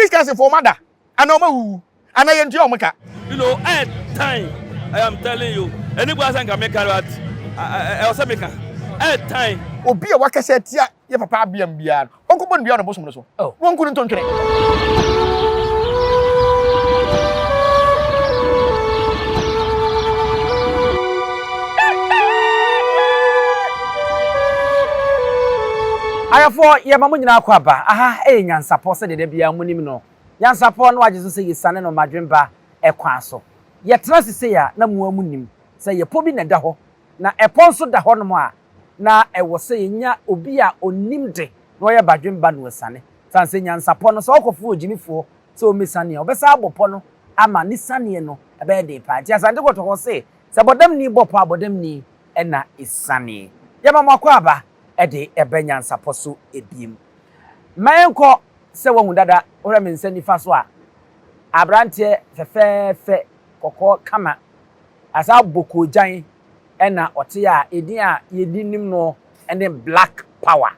Christians fo ɔmo ada anaa ɔmo awuwu anaa yɛ ntua ɔmo ka. You know eh time I am telling you ɛni bua sɛ nka me ka but ɛwɔ sɛ me ka eh time. Obi a wakasa atia yɛ papa abeam biara no ɔnkɔ bɔ no dua wɔ ne bosom no so na wɔnku no ntontwene. Ayɛfoɔ yɛma mo nyinaa kɔ aba. Aha yɛ Nyansapɔ sɛdeɛ da biara monim no. Nyansapɔ na wagye so sɛ yɛsiane no Madwemba kwan so. Yɛtena ase sei a, na mo ara monim sɛ yɛpɔ bi na ɛda hɔ, na ɛpɔ nso da hɔnom a, na ɛwɔ sɛ yɛnya obi a ɔnim de na ɔyɛ Badwemba na wasiane. Ɛsiane sɛ Nyansapɔ no, sɛ ɔkɔfrɛ ogyimifoɔ sɛ ɔmmɛsiane a, ɔbɛsan abɔ pɔ no ama ne sianeɛ no bɛyɛ den paa. Nti Asante Kɔtɔkɔ se, sɛ bɔdamni bɔ pɔ a, bɔdamni. na esianee. Yɛma mo akwaaba de ba nyansapɔ so biem. Mma yɛnkɔ sɛ woahu dada, wohwɛ me nsa nifa so a, aberanteɛ fɛfɛɛfɛ, kɔkɔɔ kama, asan abɔ koogyan na ɔte a edin a yɛdi nim no ne Black Power.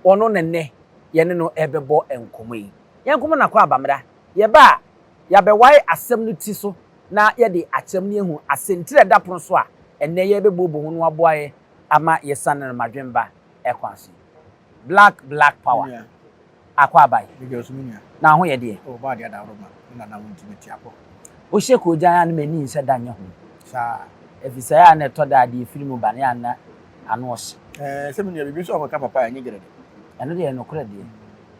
Ɔno na nnɛ yɛne no rebɛbɔ nkɔmmɔ yi. Yɛnkɔmmɔ no akwaaba mmra. Yɛba a, yɛabɛwae asɛm no ti so na yɛde akyerɛm no ahu asɛntire a ɛda pono so a ɛnnɛ yɛrebɛbuobɔ ho no aboa yɛn ama yɛasiane no mmadwemba kwan so yi, Black, Black Power, Akwaaba-yi, na ho yɛ deɛ. Wohyɛ koogyan a na m'ani nhyɛ da nyɛ ho ɛfiri sɛ ɛyɛ a na ɛtɔ da a deɛ ɛfiri mu ba no ɛyɛ a na ano ɔhye. Ɛno deɛ ɛyɛ nokorɛ deɛ.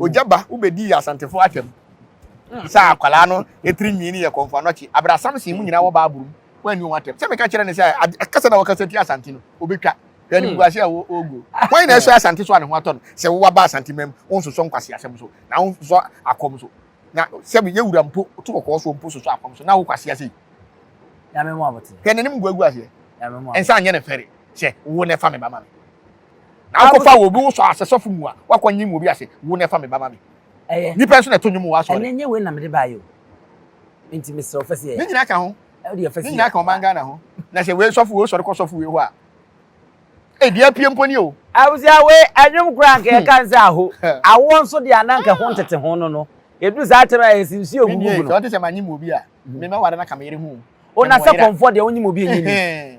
ogya ba wobɛdii asantefo atwam sɛ akwadaa no ɛtiri nwii no yɛ kɔnfo anɔkye abere asamsen mu nyinaa wɔ baaboro mu wɔanni wɔn atɛm sɛ meka kyerɛ ne sɛ ɛkasa na wɔkasa tia asante no wobɛtwa hwɛ ne buase a wɔgu wɔn nyinaa ɛsɔ asante so a ne ho atɔ no sɛ wowɔ aba asante mam wonsosɔ nkwase asɛm so na wonsosɔ akɔm so na sɛ yɛ wura mpo to kɔkɔɔ so mpo sosɔ akɔm so na wokwase ase hwɛ n'anim gu agu aseɛ ɛnsa nyɛ ne fɛre sɛ wo na ɛfa me ba ma me Na akɔfa obi wo sɔ asɛ sɔfo mu a wakɔ nyim obi ase wo na ɛfa me ba ma me ɛyɛ nipa nso na ɛto nwom wɔ asɔre. Ɛnɛ nyɛ wei na mede baayɛ o nti mesrɛ wo fɛsi yɛ. Ne nyinaa ka ho ne nyinaa ka ɔman Ghana ho na sɛ wei sɔfo wei sɔre kɔ sɔfo wei hɔ a ee deɛ apue mpo ni o. Abusua wei ɛnwom koraa nka yɛka no sɛ aho awoɔ nso deɛ ana nka ɛho ntete ho no no yɛduru saa tɛm a yɛsi nsuo gugu gu no. Sɛ ɔte sɛ manyim obi a memɛware no aka me yere ho o. O na sɛ kɔmfoɔ deɛ wonyim obi a ɛnyɛ ni.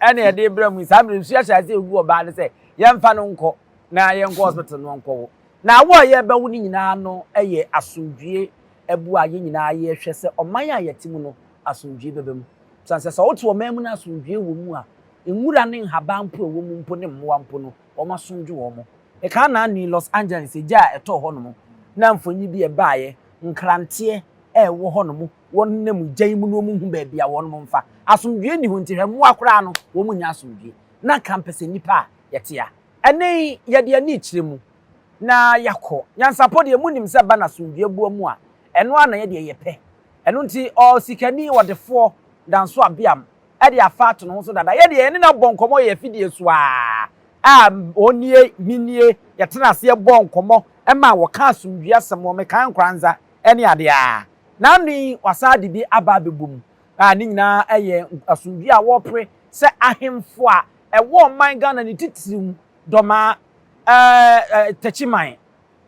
ɛna yɛde rebrɛ mu saa bere nsuahyɛ ase egu ɔbaa no sɛ yɛmfa no nkɔ na yɛnkɔ hospital no nkɔwo na awo a yɛbɛwo no nyinaa no yɛ asomdwie abu a yɛn nyinaa yɛhwɛ sɛ ɔman a yɛte mu no asomdwie bɛba mu san sɛ sɛ wote ɔman mu no asomdwie wɔ mu a nwura ne nhaban mpo ɛwɔ mu mpo ne mmoa mpo no wɔn asomdwe wɔn mo ɛka anaa ni Los Angeles egya a ɛtɔɔ hɔ nom na mfonyi bi ɛbaeɛ nkranteɛ ɛwɔ hɔ nom wɔnenam gya yi mu no wɔn hu baabi a wɔn mfa. Asomdwie nni hɔ nti hwɛ mmoa koraa no wɔn nyɛ asomdwie. Na anka mpɛ sɛ nnipa a yɛte a ɛne yɛde ani kyerɛ mu na yɛakɔ. Nyansapɔ deɛ monim sɛ ba no asomdwie boa mu a ɛno ara na yɛ deɛ yɛpɛ. Ɛno nti ɔsikani ɔdefoɔ Danso Abeam de afa ato ne ho so dada. Yɛ deɛ yɛne no abɔ nkɔmmɔ yɛ afidie so ara a ɔnie, me nie, yɛtena aseɛ bɔɔ nkɔmmɔ maa wɔkaa asomdwie asɛm wɔ mekae nkoranza. ne ade a na ano yi wɔasan ade bi aba abɛbɔ mu a ne nyinaa yɛ asomdwoe a wɔpere sɛ ahemfo a ɛwɔ ɔman Ghana ne titiriw Dɔma, ɛɛ Takyiman,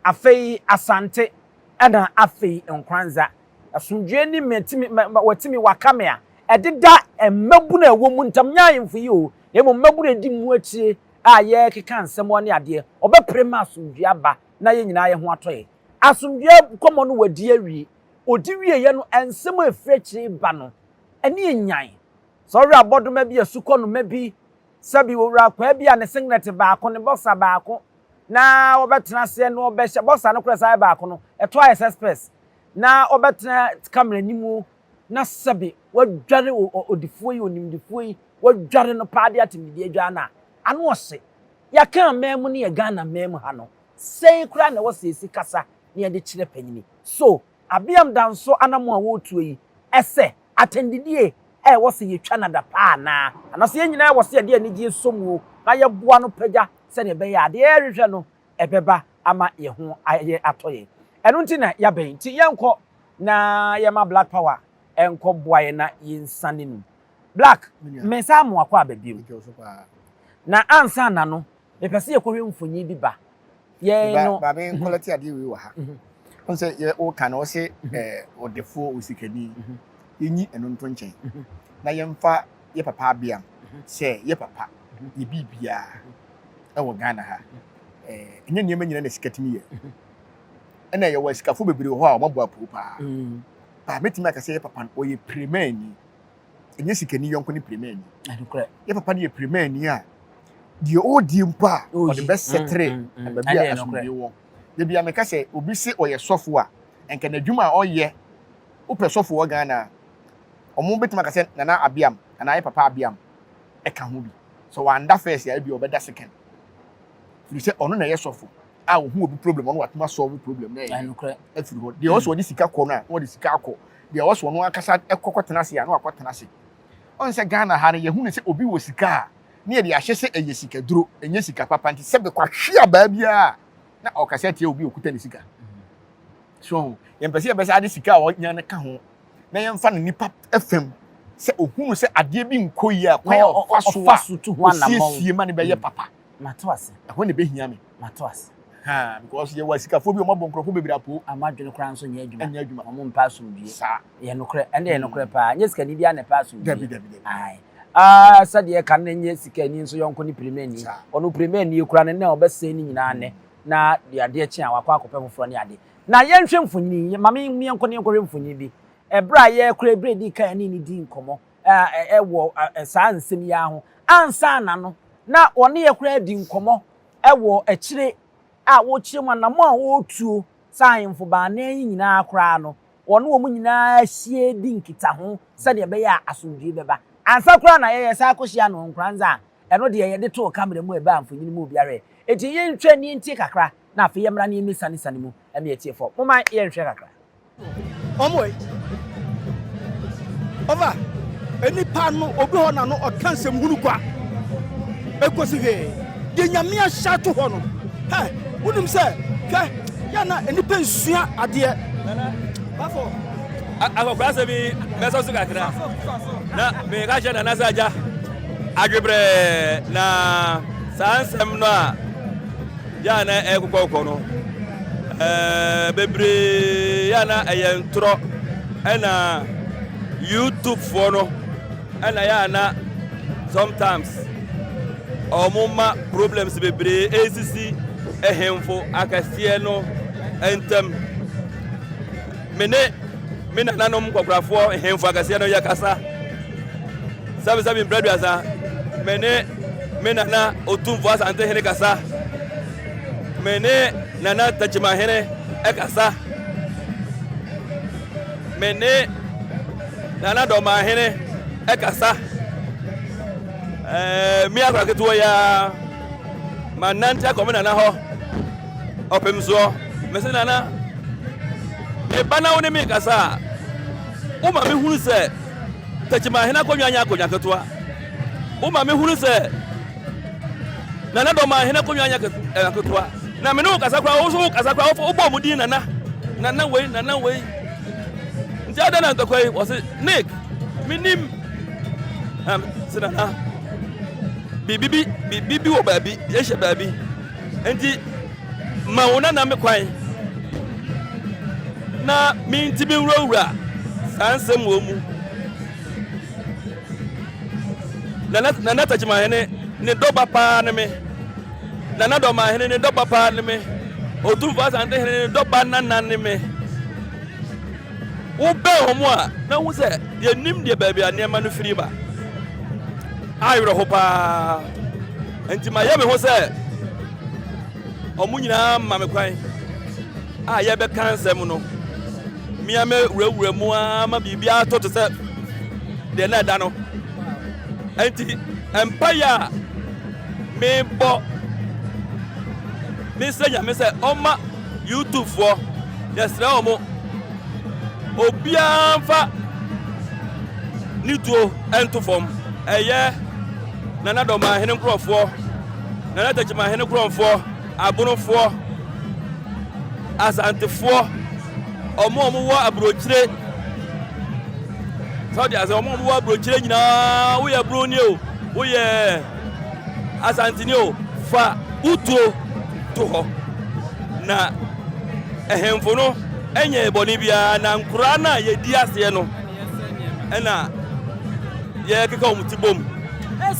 afei Asante ɛna afei Nkoranza. Asomdwoe ne matumi watumi waka me a ɛdeda mmabunu a ɛwɔ mu ntam, nyɛ ahemfo yi o, na mmom mmabunu a ɛdi mu akyire a yɛkeka nsɛm ne adeɛ, wɔbɛpere ma asomdwoe aba na yɛn nyinaa yɛn ho atɔ yɛn. Asomdwoeɛ nkɔmmɔ no wadi awie. Ɔdi wieeɛ no, nsɛm a ɛfiri akyire reba no, ani yɛ nyan. Sɛ ɔwere abɔdoma bi, asukɔnoma bi, sɛbi ɔwere akwaa bi a, ne senglɛte baako, ne bɔsa baako na ɔbɛtena aseɛ na ɔbɛhyɛ, bɔsa no koraa san yɛ baako no, ɛtɔ ayɛ sɛ spɛs, na ɔbɛtena kamera anim na sɛbi wadware ɔdifoɔ yi, onimdifoɔ yi, wadware no paa de atemdidie adware no a, ano ɔhye. Yɛaka aman mu ne yɛn Ghana man mu ha no, Sɛn koraa na ɛwɔ sɛ yesi kasa na yɛde kyerɛ panyin? So Abiam da nso anammɔn a wɔretuo yi sɛ atɛndidie a ɛwɔ sɛ yetwa no adapaa anaa? Anaasɛ yɛn nyinaa wɔ sɛ yɛde anigyeɛ sɔ mu na yɛboa no pagya sɛnea ɛbɛyɛ a adeɛ a yɛrehwehwɛ no bɛba ama yɛn ho ayɛ atɔ yɛn? Ɛno nti na yɛabɛn. Nti yɛnkɔ na yɛma Black Power nkɔboa yɛn na yɛnsane mu. Black, mensan mmoa kɔ aba bio. Na ansa na no, Mepɛ sɛ yɛkɔhwɛ mfonyin bi ba. Yɛn no. Ba me nkɔlɛte adeɛ wei wɔ ha. Wɔn sɛ yɛ ɔka no ɔsɛ ɔdefoɔ osikani. Yɛnyi ɛno nto nkyɛn. Na yɛmfa yɛ papa abeam sɛ yɛ papa yɛ biribiara ɛwɔ Ghana ha. Ɛnyɛ nneɛma nyinaa na sika tumi yɛ. Ɛna yɛwɔ asikafoɔ bebree wɔ hɔ a wɔabɔ apoo paa. Ba mɛtumi aka sɛ yɛ papa no ɔyɛ piremani. ɛnyɛ sikani yɔnko ne pirimani. Nokorɛ. Yɛ papa no yɛ pirimani a, deɛ ɔredi mpo a, ɔde bɛsɛtere mm, mm, mm. baabi a asomdwoe wɔ. Da bi a meka sɛ obi se ɔyɛ sɔfo a, nka n'adwuma a ɔyɛ, wopɛ sɔfo wɔ Ghana a, wɔn bɛtumi aka sɛ Nana Abiam anaa yɛ papa Abiam ɛka ho bi. Sɛ wanda first a, ebi ɔbɛda second. Firi sɛ ɔno na ɛyɛ sɔfo. a ɔhu obi problem ɔno watumi asɔlvo problem no ɛyɛ afiri hɔ deɛ ɔsɛ ɔde sika kɔ no a na ɔde sika akɔ deɛ ɔsɛ ɔno ankasa ɛkɔ kɔtena ase a na wakɔ atena ase ɔn sɛ Ghana ha no yɛhu no sɛ obi wɔ sika a ne yɛde ahyɛ sɛ ɛyɛ sika duro ɛnyɛ sika papa nti sɛ bɛkɔ ahwe abaa biara a na ɔkasa atia obi okuta ne sika so yɛmpɛ sɛ yɛbɛsa ade sika a ɔnya no ka ho na yɛmfa no nipa fam sɛ ohunu sɛ adeɛ bi nkɔ yie a kwan a ɔfa so a ɔsiesie ma no bɛyɛ papa Mate ase. Ɛhɔ na ɛbɛhia me. Mate ase. Haa, because yɛwɔ asikafoɔ bi a wɔabɔ nkurɔfoɔ bebree apoo. A wɔadwene koraa nso nyɛ adwuma. Nyɛ adwuma. Wɔmpɛ asomdwoeɛ. Saa. Ɛyɛ nokorɛ. Ɛno deɛ ɛyɛ nokorɛ paa. Nyɛ sikani biara na ɛpɛ asomdwoeɛ. Dabi, dabi, dabi. Ae. Aa, sɛdeɛ ɛka no, na nyɛ sikani nso yɔnko ne pirimani. Saa. Ɔno pirimani koraa no, na ɔbɛsɛe ne nyinaa nnɛ, na deɛ adeɛ kye a, wakɔ akɔpɛ foforɔ ne ade. Na yɛnhwɛ mfonini yi. Ma me, yɛnkɔ na yɛnkɔhwɛ mfonini bi. Ɛberɛ a yɛrekora, ɛberɛ a ɛdii kan a yɛne no dii nkɔmmɔ, wɔ saa nsɛm yi ara ho. Ansaana no, na wɔne yɛn koraa di nkɔmmɔ wɔ akyire a wɔrekyerɛ mu anammɔn a wɔretuo saa ahemfo baanan yi nyinaa koraa no, wɔne wɔn nyinaa hyia di nkitaho sɛdeɛ ɛbɛyɛ a asomdwoeɛ bɛba. Ansa koraa na yɛyɛ saa kɔhyia no Nkoranza a ɛno deɛ yɛde too kamera mu a ɛbaa mfonini mu obiara ɛ. Enti yɛntwa ani ntie kakra na afei yɛmmra na yɛmmɛsianesane mu na yɛatie fam. Momma yɛnhwɛ kakra. Ɔmo ei. Ɔfa enipa no obi hɔ na no ɔka nsɛm hunu kwa. Ekosi hwee. Deɛ nyame ahyɛ ato hɔ no. Hɛ, wonim sɛ, hwɛ, yɛ na enipa nsua adeɛ. Nana, bafo. Akɔkora sɛ bi bɛsɔ so kakra. Na meka kyerɛ Nana sɛ agya, adwebrɛ na saa nsɛm no a Yɛ a na ɛyɛ kɔkɔɔkɔ no, ɛɛ bebree yɛ a na ɛyɛ ntorɔ. Ɛna YouTubefoɔ no, ɛna yɛ a na sometimes wɔn ma problems bebree ɛresisi ɛhemfo akɛseɛ no ntam. Me ne me nananom nkɔkorafoɔ nhemfo akɛseɛ no yɛkasa. Sɛbesɛbe mpra aduasa, me ne me nana Otumfo Asante Hene kasa, me ne Nana Tekyima Hene kasa, me ne Nana Dɔmaa Hene kasa. Ɛɛ, me akora ketewa yi ara, manante akɔ me nana hɔ ɔpem soɔ. Me se nana, meba na wo ne me kasa a, woma mehunu sɛ Techimanhene akonnwa nyɛ akonnwa ketewa. Woma mehunu sɛ Nana Dɔmanhene akonnwa nyɛ ketewa. Na me ne wo kasa koraa, wo nso wo kasa koraa, wobɔ wɔn din Nana, Nana wei, Nana wei. Nti adɛn na ntɔkwa yi? Wɔse Nick, menim. Na se Nana, biribi bi, biribi bi wɔ baabi, yɛhyɛ baabi. Nti Ma wo nana me kwan na mentumi nwurawura saa nsɛm wɔ mu. Nana Nana Takyimahene ne dɔba paa ne me. Nana Dɔmahene ne dɔba paa ne me. Otumfo Asante Hene ne dɔba nana ne me. Wobɛn wɔn a na hu sɛ yɛnim deɛ baabi a nneɛma no firi ba. Awerɛho paa. Enti mayɛ me ho sɛ wɔn nyinaa ma me kwan a yɛbɛka nsɛm no. Mea me wurawura mu ara ma biribiara tɔ te sɛ deɛ na ɛda no. Enti mpaeɛ a mebɔ mesrɛ Nyame sɛ ɔma YouTube foɔ yɛsrɛ wɔn obiara mfa ne tuo nto fam ɛyɛ. Nana Dɔmahene nkorɔfoɔ, Nana Takyimahene korɔnfoɔ, Abonofoɔ, Asantefoɔ, wɔn a wɔwɔ aburokyire, sɛ ɔde asɛ wɔn a wɔwɔ aburokyire nyinaa, woyɛ Broni o, woyɛ Asanteni o, fa utuo to hɔ. Na ɛhemfo no nyɛ bɔne biara, na nkoraa no a yɛdi aseɛ no, ɛna yɛkeka wɔn ti bom.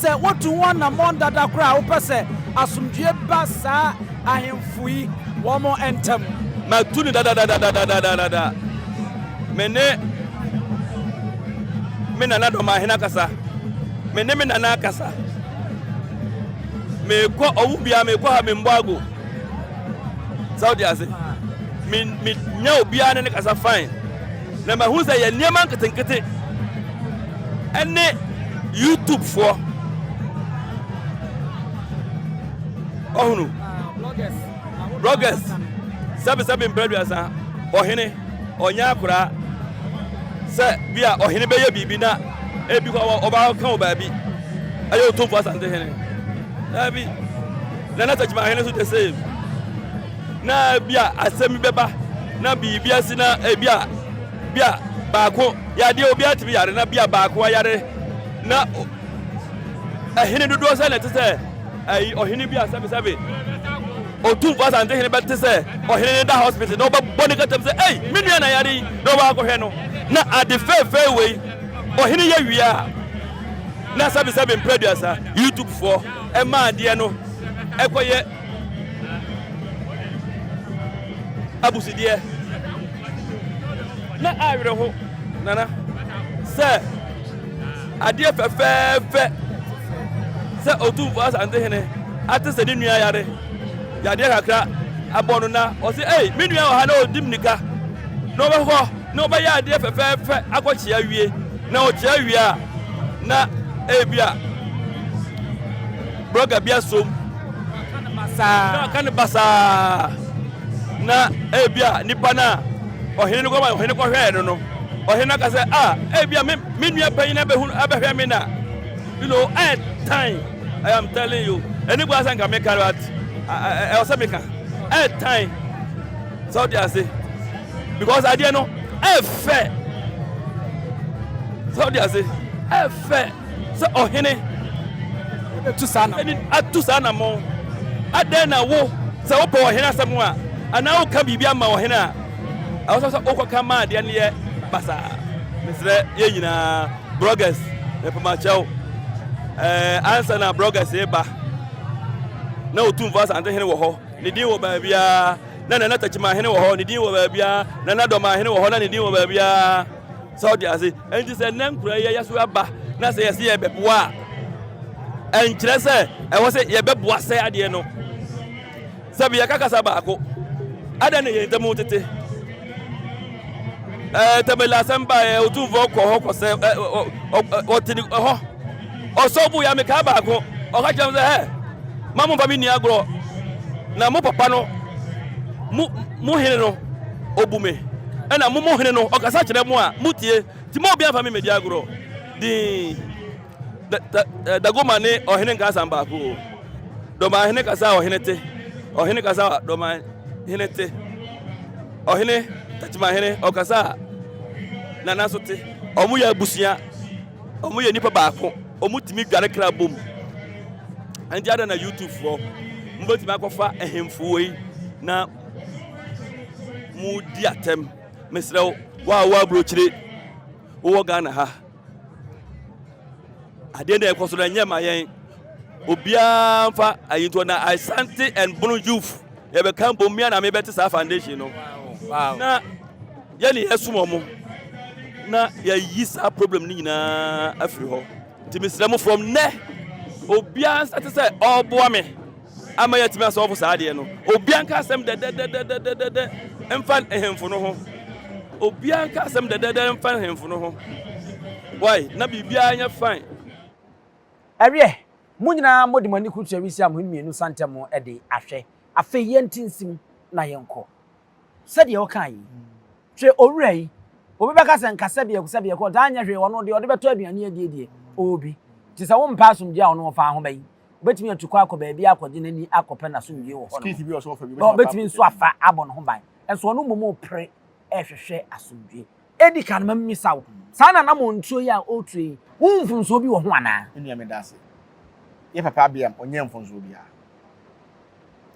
Sɛ wotu ho anammɔn dada koraa a, wopɛ sɛ asomdwoe ba saa ahemfo yi wɔn ntam? Matu no dadadadadadadada. Me ne me nana dɔmahene akasa. Me ne me nana akasa. Mekɔ ɔwo biara mekɔ ha memmɔ ago. Sɛ wote ase. Me me nya obiara ne ne kasa fine. Na mahu sɛ yɛ nneɛma nketenkete ne YouTube foɔ. Ɔhunu. Bloggers. Sɛbesɛbe mprɛduasa. Ɔhene. Ɔnyɛ akoraa. Sɛ bi a ɔhene bɛyɛ biribi na ebi kɔ ɔba ka wɔ baabi. Ɛyɛ otumfo asante hene. Daabi. Nana Takyima ahene so the same. na ebia asɛm bi bɛba na biribi asi na ebia bia baako yadeɛ obiara tumi yare na bia baako ayare na ɛhene dodoɔ sɛ na ɛte sɛ ɛyi ɔhene bi a sɛbesɛbe otumfoɔ asante hene bɛte sɛ ɔhene ne da hospital na ɔbɛbɔ ne katam sɛ ei me nua na yare yi na ɔbɛ akɔhwɛ no na ade fɛɛfɛɛ wei ɔhene yɛ wie a na sɛbesɛbe mprɛ aduasa youtubefoɔ ɛma adeɛ no ɛkɔyɛ Abusudeɛ na awerɛho nana sɛ adeɛ fɛfɛɛfɛ sɛ Otumfoɔ Asante Hene ate sɛ ne nua yare yadeɛ kakra abɔ no na ɔsɛ ei me nua wɔ ha na ɔdi mmirika na ɔbɛkɔ na ɔbɛyɛ adeɛ fɛfɛɛfɛ akɔkyea wie na ɔkyea wie a na ebi a Brɔga bi asom na ɔka no basaa, na ebi a nipa no a ɔhene no kɔma ɔhene kɔhwɛɛ no no, ɔhene no aka sɛ, a ebi a me me nua panyin abɛhunu abɛhwɛ me na you know ɛyɛ tan I am telling you ɛne bu asɛ nka meka no at ɛwɔ sɛ meka ɛyɛ tan sɛ ɔde ase because adeɛ no ɛfɛ sɛ ɔde ase ɛfɛ. sɛ ɔhene tu saa na ɛni atu saa anammɔn. Adɛn na wo, sɛ wopɛ ɔhene asɛm a, anaa woka biribi ama ɔhene a, ɛwɔ sɛ sɛ wokɔka ma adeɛ no yɛ basaa? Mesrɛ yɛn nyinaa, bloggers, mepamakyɛw, ɛɛ ansa na bloggers reba, na Otumfo Asante Hene wɔ hɔ, ne din wɔ baabiara, na Nana Takyima Hene wɔ hɔ, ne din wɔ baabiara, Nana Dɔma Hene wɔ hɔ, na ne din wɔ baabiara. Sɛ wote ase? Enti sɛ nnɛ nkuraa yi ayɛ so aba na sɛ yɛse yɛbɛboa a, ɛnkyerɛ sɛ ɛwɔ sɛ yɛbɛboa sɛ adeɛ no. Sɛ bi yɛka kasa baako, adɛn na yɛn ntam tete? Ɛɛ tɛmɛla asɛm baeɛ, otumfoɔ kɔ hɔ kɔsɛ ɔte hɔ. Ɔsɔw buu yɛn mmekaa baako. Ɔka kyerɛɛ me sɛ, Hɛ! Mma mommfa me nni agorɔ, na mo papa no, mo, mo hene no, obu me, ɛnna mo, mo hene no, ɔkasa kyerɛ mo a mutie. Enti mma obiara mfa me mmedi agorɔ. Dinn, da, da, eh, Dagoma ne ɔhene nka asɛm baako o. Dɔman hene kasa a ɔhene te, ɔhene kasa a dɔman hene te, ɔhene, Techiman hene, ɔkasa a Nana nso te. Wɔyɛ abusua. Ɔmo yɛ nipa baako, ɔmo tumi dware kra bom. Ɛnti ada na YouTube foɔ, mo bɛtumi akɔfa ɛhemfo wei na mo di atɛm. Mesrɛ wo, wa a wɔ aburokyire, wowɔ Ghana ha. Adeɛ na ɛkɔ so na ɛnyɛ ma yɛn. Obiara mfa ayintoɔ na Asante and Bono youth Yɛbɛka mbom me a na mebɛte saa foundation no na yɛne yɛsom ɔmo na yɛayi saa problem no nyinaa afiri hɔ. Nti mesrɛ mo from nnɛ obiara nsate sɛ ɔreboa me ama yɛatumi asɔfo saa adeɛ no. Obiara nka asɛm dɛdɛdɛdɛdɛdɛdɛ mfa nhemfo no ho. Obiara nka asɛm dɛdɛdɛ mfa nhemfo no ho. Why? Na biribiara nyɛ fine. Ɛreɛ Mo nyinaa mode mo ani kurukyerɛ Risia mo hene mmienu nsa ntam de ahwɛ. Afei yɛnte nsim na yɛnkɔ. Sɛdeɛ ɔkaa yi, hwɛ owura yi, obi bɛka sɛ nka sɛbiako sɛbiako ɔtaa nyɛ hwee ɔno deɛ ɔde bɛtɔ aduane adie deɛ ɔwɔ bi. Nti sɛ wompɛ asomdwoeɛ a ɔno wɔ faa ho bɛn? Ɔbɛtumi atu kɔ akɔ baabi akɔgye n'ani akɔpɛ n'asomdwoeɛ wɔ hɔnom. Na ɔbɛtumi nso afa abɔ ne ho ban. Nso ɔno mmom repere rehwehwɛ asomdwoeɛ. Edi kan no, ma mimmisa wo, saa ananamɔntuo yi a woretu yi, wohu mfomsoɔ bi wɔ ho anaa? Me nua, meda ase. Yɛn papa Abiam, ɔnyɛɛ mfomsoɔ biara.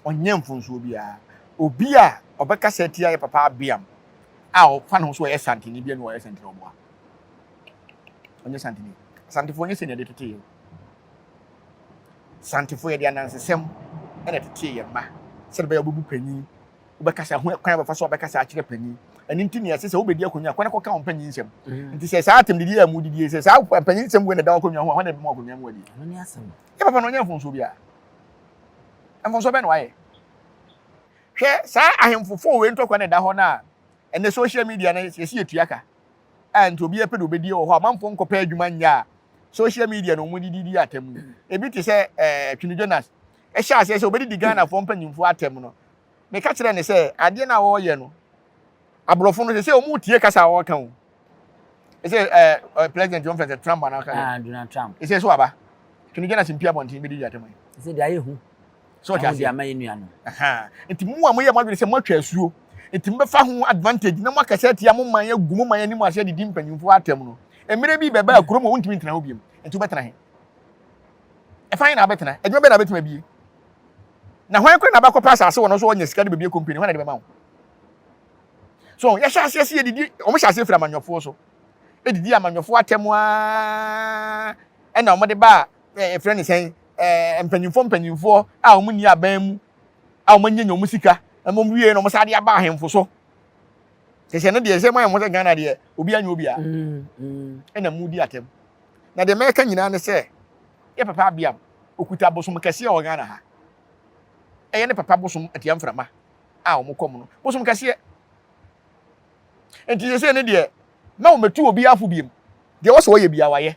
Ɔnyɛɛ mfomsoɔ biara. Obi a ɔbɛkasa atia yɛn papa Abiam a ɔfa ne ho sɛ ɔyɛ Santini biara ne ɔyɛ Santini ɔboa. Ɔnyɛ Santini. Asantefoɔ nyɛ sɛnea yɛde tetee yɛn. Santefoɔ yɛde anansesɛm na ɛtetee yɛn mma sɛdeɛ ɛbɛyɛ a wɔbɛbu panyin wobɛkasa ho kwan a wɔbɛfa so abɛkasa akyerɛ panyin. Ɛno nti nea ɛsɛ sɛ wobɛdi akonnwa a, kɔ na kɔka wo mpanyin nsɛm. Mm. Nti sɛ saa atɛmdidi yi a mudidi yi, sɛ saa mpanyin nsɛm wei na ɛda w'akonnwa ho a, hwan na ɛbɛma w'akonnwa mu adie? Ɛno ne asɛm. Yɛ papa no ɔnyɛ mfomsoɔ biara. Mfomsoɔ bɛn na wayɛ? Hwɛ saa ahemfofo wei ntɔkwa na ɛda hɔ no a ɛnɛ social media no yɛsi yɛtua ka a nti obiara pɛ de obɛdie wɔ hɔ a manfoɔ nkɔpɛ adwuma nyɛ a social media na wɔn didi di atɛm no. Ebi te sɛ ɛɛ eh, Twene Jonas hyɛɛ aseɛ sɛ ɔbɛdidi Ghanafoɔ mpanyimfoɔ atɛm no, meka kyerɛɛ no sɛ adeɛ no a wɔreyɛ no, aborɔfo no sɛsɛ wɔretie kasa a wɔreka o. Ɛsɛ ɛɛ president wɔn fɛn sɛ Trump anaa ɔka ah, Donald Trump. Ɛsɛ so aba. Kini gyina se mpi abɔnten bɛdi yi atɛm yi. Ɛsɛ deɛ ayɛ hu. So ɔte aseɛ. Ama yɛ nua no. Nti mu a moyɛ mo adwene sɛ moatwa asuo. Nti mobɛfa ho advantage na moaka sɛ atia mo man agu mo man anim ahyɛ didi mpanyimfoɔ atɛm no. Mmerɛ bi bɛbɛ a kurom a wontumi ntena hɔ biom. Nti wobɛtena he? Ɛfa he na wobɛtena? Adwuma bɛn na wobɛtumi abie? Na hwan koraa na abɛkɔpɛ asase wɔ no nso ɔnya sika de bɛbie company? Hwan na de bɛma wo? So yɛhyɛ aseɛ sɛ yɛdidi, wɔn hyɛ aseɛ firi amanyɔfoɔ so. Ɛdidi amanyɔfoɔ atɛm ara ɛna wɔn de ba ɛfrɛ ne sɛn mpanyinfoɔ mpanyinfoɔ a wɔn nni aban mu a wɔn nyanya wɔn sika na wɔn wie na wɔn saa de aba ahemfo so sɛ sɛ no deɛ sɛ moayɛ mo sɛ ghana deɛ obi anyɛ obi a mm, mm. ɛna mu di atɛm na deɛ mɛka nyinaa ne sɛ yɛ papa abiam okuta bosom kɛseɛ wɔ ghana ha ɛyɛ ne papa bosom atia mframa a wɔn kɔm no bosom kɛseɛ nti sɛ sɛ ne deɛ na wɔn bɛtu obi afo biem deɛ wɔsɛ wɔyɛ bia wɔayɛ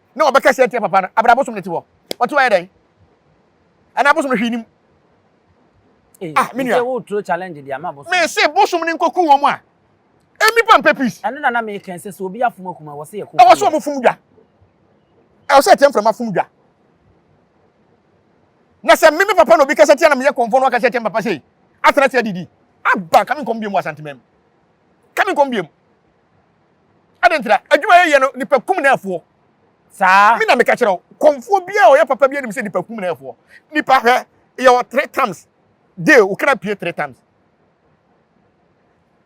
na ɔbɛka sɛ atia papa no abra abosom no te hɔ ɔte hɔ yɛ dɛn ɛna abosom no hwii nim eh, ah me nua wo tro challenge de ama abosom me se bosom no nkoku wɔn a emi pa mpɛ peace ɛno na na me kɛn sɛ sɛ obi afom akuma wɔ se yɛ ko ɛwɔ sɛ ɔmo fom dwa ɛwɔ sɛ ɛtɛ mframa fom dwa na sɛ me me papa na obi kasa tia na meyɛ kɔmfɔ no akasa tia papa sei atena tia didi aba kame nkɔm biam wɔ asantemam kame nkɔm biam Adɛn nti na adwuma yɛyɛ no nipa kum na ɛfoɔ? Saa. Me na meka kyerɛ wo, kɔmfoɔ biara a ɔyɛ papa bi anim sɛ nipa kum na ɛfoɔ. Nipa hwɛ, yɛwɔ three times day, wo kra pie three times.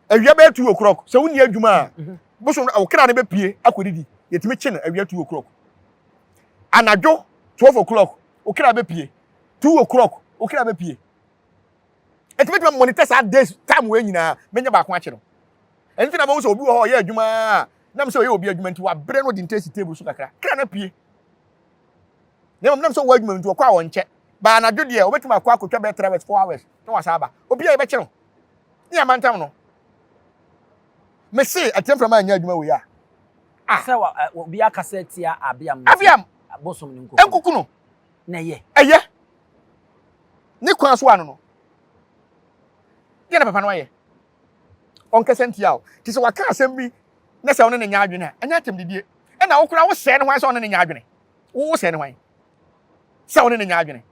Awia bɛyɛ two o'clock, sɛ wonni adwuma a, mhm. bosom no, wo kra no bɛpie akɔdidi, yɛtumi kye no awia two o'clock. Anadwo twelve o'clock, wo kra bɛpie, two o'clock, wo kra bɛpie. Enti mɛtumi amonitor saa days time wei nyinaa, mɛnya baako akye no. Ɛno nti na mahu sɛ obi wɔ hɔ ɔyɛ adwuma a, nam sɛ ɔyɛ obi adwuma nti wabrɛ no ɔde nte si table so kakra, kra no apue. Na mmom nam sɛ ɔwɔ adwuma nti ɔkɔ a ɔnkyɛ. Baa anadwo deɛ, ɔbɛtumi akɔ akɔtwa bɛyɛ 3 hours, 4 hours, na wasan aba. Obi a yɛbɛkye no, ne yɛama ntam no. Mese, atia mframa anyɛ adwuma wei a. Ah! Sɛ obi akasa atia Abiam nti, Abiam! Bosom no nkuku no. Nkuku no. Na ɛyɛ. Ɛyɛ. ne kwan so ano no deɛ na papa no ayɛ ɔnkasa ntia o te sɛ waka asɛm bi na sɛ ɔne ne nya adwene a ɛnyɛ atɛm didie ɛna wo koraa wosɛe ne hwan sɛ ɔne ne nya adwene wosɛe ne hwan sɛ ɔne ne nya adwene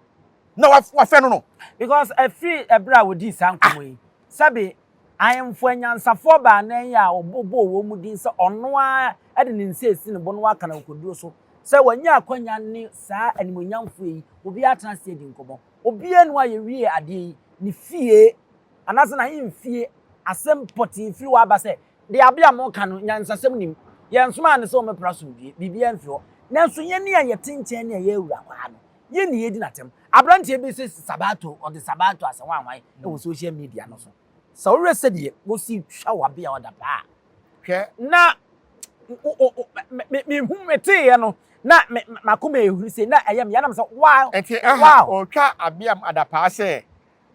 na wafɛ no no because ɛfiri ɛberɛ a wɔdii saa nkɔmmɔ yi sɛbe Ahemfo anyansafoɔ baanan yi a wɔbobɔɔ wɔn mu din sɛ ɔno ara de ne nsa asi ne bo na waka no akokoɔduro so sɛ wanya akwanya ne saa animuonyamfoɔ yi obiara atena ase adi nkɔmmɔ. Obiara nni hɔ a yɛwiee adeɛ yi, ne fie anaasɛ n'ahemfie asɛm pɔtee firi hɔ aba sɛ, Deɛ Abia moreka no, nyansasɛm nnim. Yɛnsomaa no sɛ ɔmmɛpra asomdwoeɛ, biribiara mfi hɔ. Nanso yɛn a yɛte nkyɛn ne a yɛawura kwaa no, Yɛn na yɛredi no atɛm. Aberanteɛ bi se Sabato, ɔde Sabato asɛnwanwan wɔ social media no so. Sɛ wohwɛ sɛdeɛ wɔsi twa wabea ɔda paa a, hwɛ na mehu meteeɛ no na m'akoma ɛhuri sei na ɛyɛ me ya na mesɛ wow, wow. Ɛnti aha ɔretwa abeam adapaa sɛ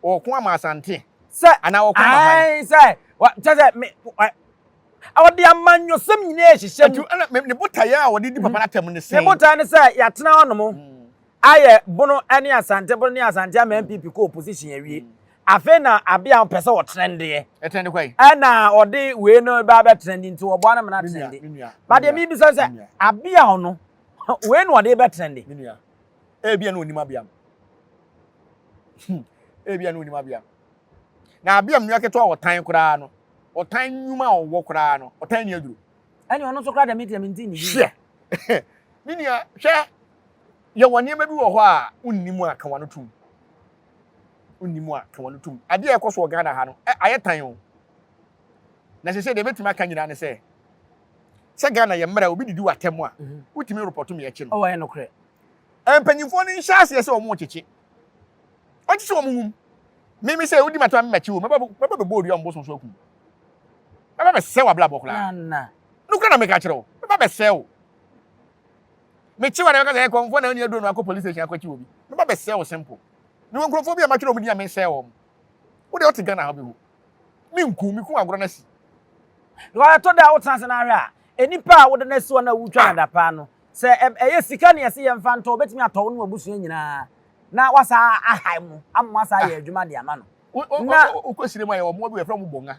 Ɔko ama Asante anaa ɔko ama hwan? Ae sɛ kyɛ sɛ me ɔde amanyɔsɛm nyinaa ɛhyehyɛ mu. Ɛtu ne botaeɛ a ɔde di papa no atɛm ne sɛn? Ne botaeɛ ne sɛ yɛatena hɔ nom ayɛ Bono ne Asante Bono ne Asante ama NPP kɔ opposition awie. Afei na abea ɔpɛ sɛ ɔtrendeɛ. Ɛtrende kwan? Ɛna ɔde wei no ba bɛtrende nti wɔboa no ma no atrende. Ba deɛ mebisa sɛ abea ɔno wei na ɔde bɛtrende. Ebia na onim abea no. Hmm. Ebia na onim abea no. Na abea mu nua ketewa ɔtan koraa no. Ɔtan nnwuma a ɔwɔ koraa no. Ɔtan ni aduro. Ɛne ɔno nso koraa dɛm deɛ mente ne yie. Hwɛ. Me nua, hwɛ. Yɛwɔ nneɛma bi wɔ hɔ a wonni mu a ka wano tom. Wonni mu a ka wano tom. Adeɛ a ɛkɔ so wɔ Ghana ha no, ayɛ tan o. Na sɛ sɛ deɛ ɛbɛtumi aka nyinaa ne sɛ sɛ Ghana yɛ mmerɛ obi didi w'atɛm a wotumi repɔto me akyi no. Ɔwɔ yɛ nokorɛ. Mpanyinfoɔ no nhyɛ aseɛ sɛ wɔn rekyekye. Wɔn kyekye wɔn wum. Me me sɛ wodi m'atɛm a me mɛkye wo mɛba mɛba bɛbɔ odua mbo sonso akum. Mɛba bɛsɛe w'abrabɔ koraa. Nana. Nokorɛ na meka kyerɛ wo. Mɛba bɛsɛe wo. Mekye wo a na mɛka sɛ ɛkɔmfoɔ na ɔni aduro no akɔ police station akɔkye obi. Mɛba bɛsɛe wo simple. Mewɔ nkurɔfoɔ bi a matwerɛ wɔn din a mensɛe wɔn. Wo deɛ wote Ghana ha wobɛhu. Minkum me kunu agorɔ no asi. Because ɛtɔ da a wotena ase na ahwɛ a, nipa a wode no asi hɔ no a wotwa no adapaa no, sɛ ɛyɛ sika na yɛse yɛmfa ntɔ, obetumi atɔ wo ne w'abusua nyinaa na wasan ahae mo ama moasan ayɛ adwuma de ama no. Na wokɔ sire mu a yɛwɔ mmoa bi wɔ yɛfrɛ wɔn bɔnga.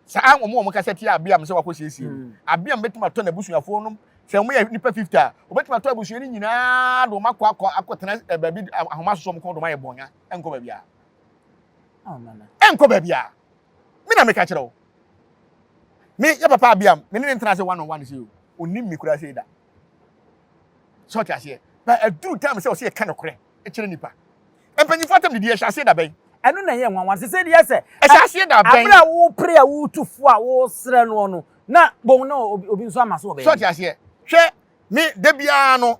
Saa wɔn a wɔkasa tia abeam sɛ wakɔ siesie no, mm. abeam betumi atɔ n'abusuafoɔ nom sɛ wɔn yɛ nipa fifty a obetumi atɔ abusua no nyinaa de wɔn akɔ akɔ akɔtena eh, baabi ahoma soso wɔn kɔn de wɔn ayɛ bɔnya nkɔ baabi a. ɛnkɔ baabi a me na meka kyerɛ wo me yɛ papa abia me ne ne ntena ase one on one sɛ o onim me kura sɛ da sɛ ɔte aseɛ ba aduru time sɛ ɔsɛ yɛka nokorɛ kyerɛ nipa mpanyinfoɔ atam didi ɛhyɛ aseɛ da bɛn ɛno na ɛyɛ nwanwa sɛ sɛ deɛ sɛ ɛhyɛ aseɛ da bɛn abere a wopere a wotu fo a wosrɛ noɔ no na bon na obi nso ama so ɔbɛn sɛ ɔte aseɛ hwɛ me da biara no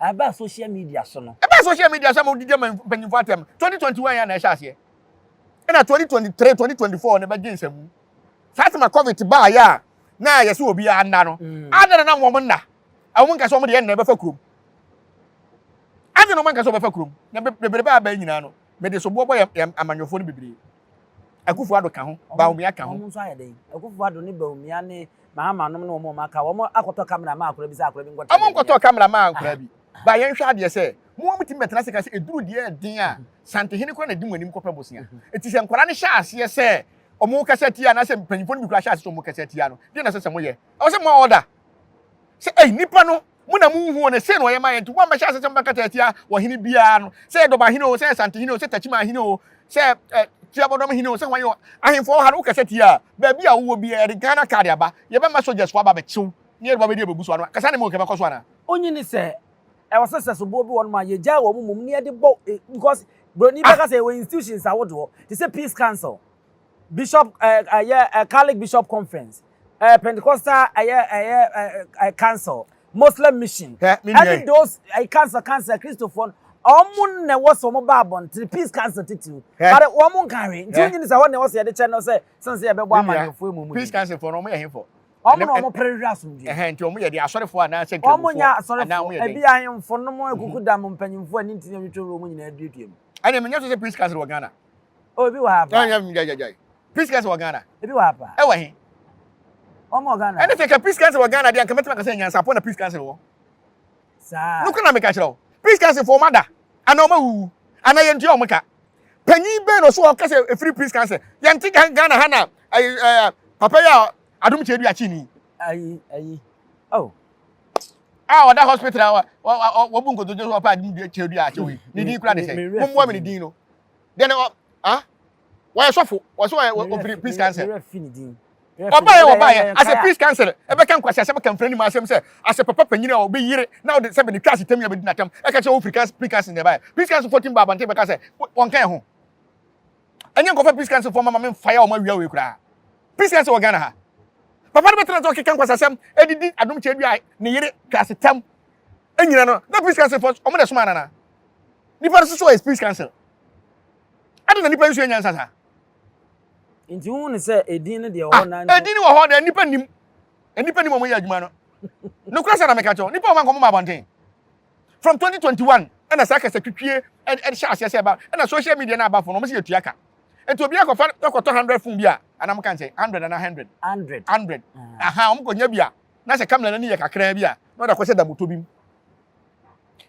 Ɛbaa social media so no. Ɛbaa social media so ama wodi gyama mpanyinfo atɛm. Twenty twenty one yɛ na ɛhyɛ aseɛ. Ɛna twenty twenty three, twenty twenty four no bɛgye nsamu. Saa tema covid baa yɛ a na yɛsɛ obi a nna no. Mm. Ada na nam wɔn nna. Wɔn nka sɛ wɔn deɛ nna ɛbɛfa kurom. Ada na wɔn nka sɛ wɔbɛfa kurom. Na bebrebe a bɛyɛ nyinaa no, mede soboɔ bɔ yɛ amanyɔfoɔ no bebree. Akufo-Addo ka ho, Bawumia ka ho. Wɔn nso ayɛ dɛn? Akufo-Addo ne Bawumia ne Mahama nom ne wɔn a wɔaka, wɔn akɔtɔ camera maa akwadaa bi sɛ akwadaa bi nkɔkyerɛ deɛ ɛnyɛ. Wɔkɔtɔɔ camera maa akwadaa bi. Ba yɛnhwɛ adeɛ sɛ, mo ara motumi bɛtena ase ka sɛ ɛduru deɛ ɛden a, Santehene koraa na ɛdi mo anim kɔpɛ bosea. Enti sɛ nkwadaa no hyɛ aseɛ sɛ wɔkasa tia anaasɛ mpanyimfoɔ no bi koraa hyɛ aseɛ sɛ wɔkasa tia no, deɛ na ɛsɛ sɛ moyɛ? Ɛwɔ sɛ moa order sɛ, Ei, nnipa no, Mo na munhuu no, sei na ɔyɛ ma yɛn, nti moammɛhyɛ ase sɛ mobɛkata atia ɔhene biara no, sɛ ɛyɛ Dɔba hene oo, sɛ ɛyɛ Sante hene oo, sɛ Tachiman hene oo, sɛ Tiabɔdɔm hene oo, sɛ hwan oo, ahemfo wɔ ha, na wokasa tia a, baabi a wowɔ biara, yɛde Ghana card aba, yɛbɛma soldiers fo aba abɛkye wo, na yɛde wo abɛdi ababu so, ano kasa ne mo nka ɛbɛkɔ so anaa? Onyi ne sɛ ɛwɔ sɛ sɛ soboɔ bi wɔ nom a yɛgyae wɔn mmom na yɛde bɔ because broni bɛka sɛ yɛwɔ institutions ahodoɔ te sɛ peace council. bishop ɛɛ ɛyɛ ɛɛ catholic bishop conference ɛɛ pentecostal ɛyɛ ɛyɛ ɛɛ council muslim mission ɛne those ɛɛ council council kristofoɔ no wɔn na ɛwɔ sɛ wɔn ba abɔnten peace council titiriw but wɔn nka hwee nti wɔn nyini sɛ hɔ na ɛwɔ sɛ yɛde kyɛ no sɛ sɛn sɛ yɛbɛbɔ amanyɔfoɔ emu mu peace council foɔ no wɔn yɛ hefo wɔn na wɔn pere hwɛ asomdwe ɛhɛn nti wɔn yɛ de asɔrefoɔ anaasɛ nkirimofoɔ wɔn nyɛ asɔrefoɔ ebi ahemfo nom akuku dam mpanyinfoɔ ɛne ntini ɛtwitwi wɔn nyinaa duadua mu ɛna ɛmɛ nyɛ sɛ peace council wɔ ghana. Oh, ebi wɔ ha pa. Ɛnyɛ gyagyagyae. Priscas wɔ Ghana. Ebi wɔ ha pa. Ɛwɔ he? Wɔn wɔ Ghana. Ɛne sɛ ka Priscas wɔ Ghana deɛ nkamɛtɛm akasɛ nyansapɔ na Priscas wɔ. Saa. Nukura na meka kyerɛ wo. Priscas fo wɔn ada ana wɔn awuwu ana yɛn ntua wɔn ka. Panyin bɛn na ɔso ɔka sɛ efiri Priscas yɛn ti Ghana ha na ɛɛ ɛɛ papa yi a adum kyɛ du akyi ni. Ayi ayi. Oh. Ah, ɔda hospital a wɔbu nkotojo so ɔpa adum kyɛ du akyi wo. Ne din kura de sɛ. Mo mmoa mi ne din no. deɛ na ah wɔyɛ sɔfo wɔsɛ wɔyɛ ofiri peace council ɔbaayɛ ɔbaayɛ asɛ peace council ɛbɛka nkwasi asɛm ka mfiri anim asɛm sɛ asɛ papa panyin a ɔbɛ yire na ɔde sɛbi ne twa ase tɛm yɛ bɛ di na tɛm ɛka kyɛ ofiri peace council na ɛbaayɛ peace council fo tim ba abante bɛka sɛ wɔn ka yɛ ho ɛnyɛ nkɔfɛ peace council fo mama mi nfa yɛ wɔn awia wɔ ekura peace council wɔ ghana ha papa no bɛ tẹ̀lé sọ kíkan kwasa sẹ́m ẹdidi adum kyẹ́ dua ne yere kasi tẹ́m ẹnyina no na peace council fọ ọmọ dẹ̀ sọmọ anana. Nipa no soso ɔyɛ speech council. Adi na nipa nsua nyansa saa. Nti wo ne sɛ edin no deɛ wɔ hɔ na ah, edin wɔ hɔ deɛ nipa nim. Nipa nim wɔn yɛ adwuma no. Nokura sɛ na meka kyɛw nipa wɔn ankɔmɔ ma abɔnten. From 2021 ɛna saa kasa twitwie ɛde hyɛ aseɛ sɛ ɛba ɛna social media na aba fo na wɔn si yɛ tua ka. Nti obi akɔfa akɔtɔ 100 fon bi a anam kan sɛ 100 ana 100. 100. 100. Aha wɔn kɔ nya bi a na sɛ kamera n'ani yɛ kakraa bi a na ɔde akɔhyɛ damoto bi mu.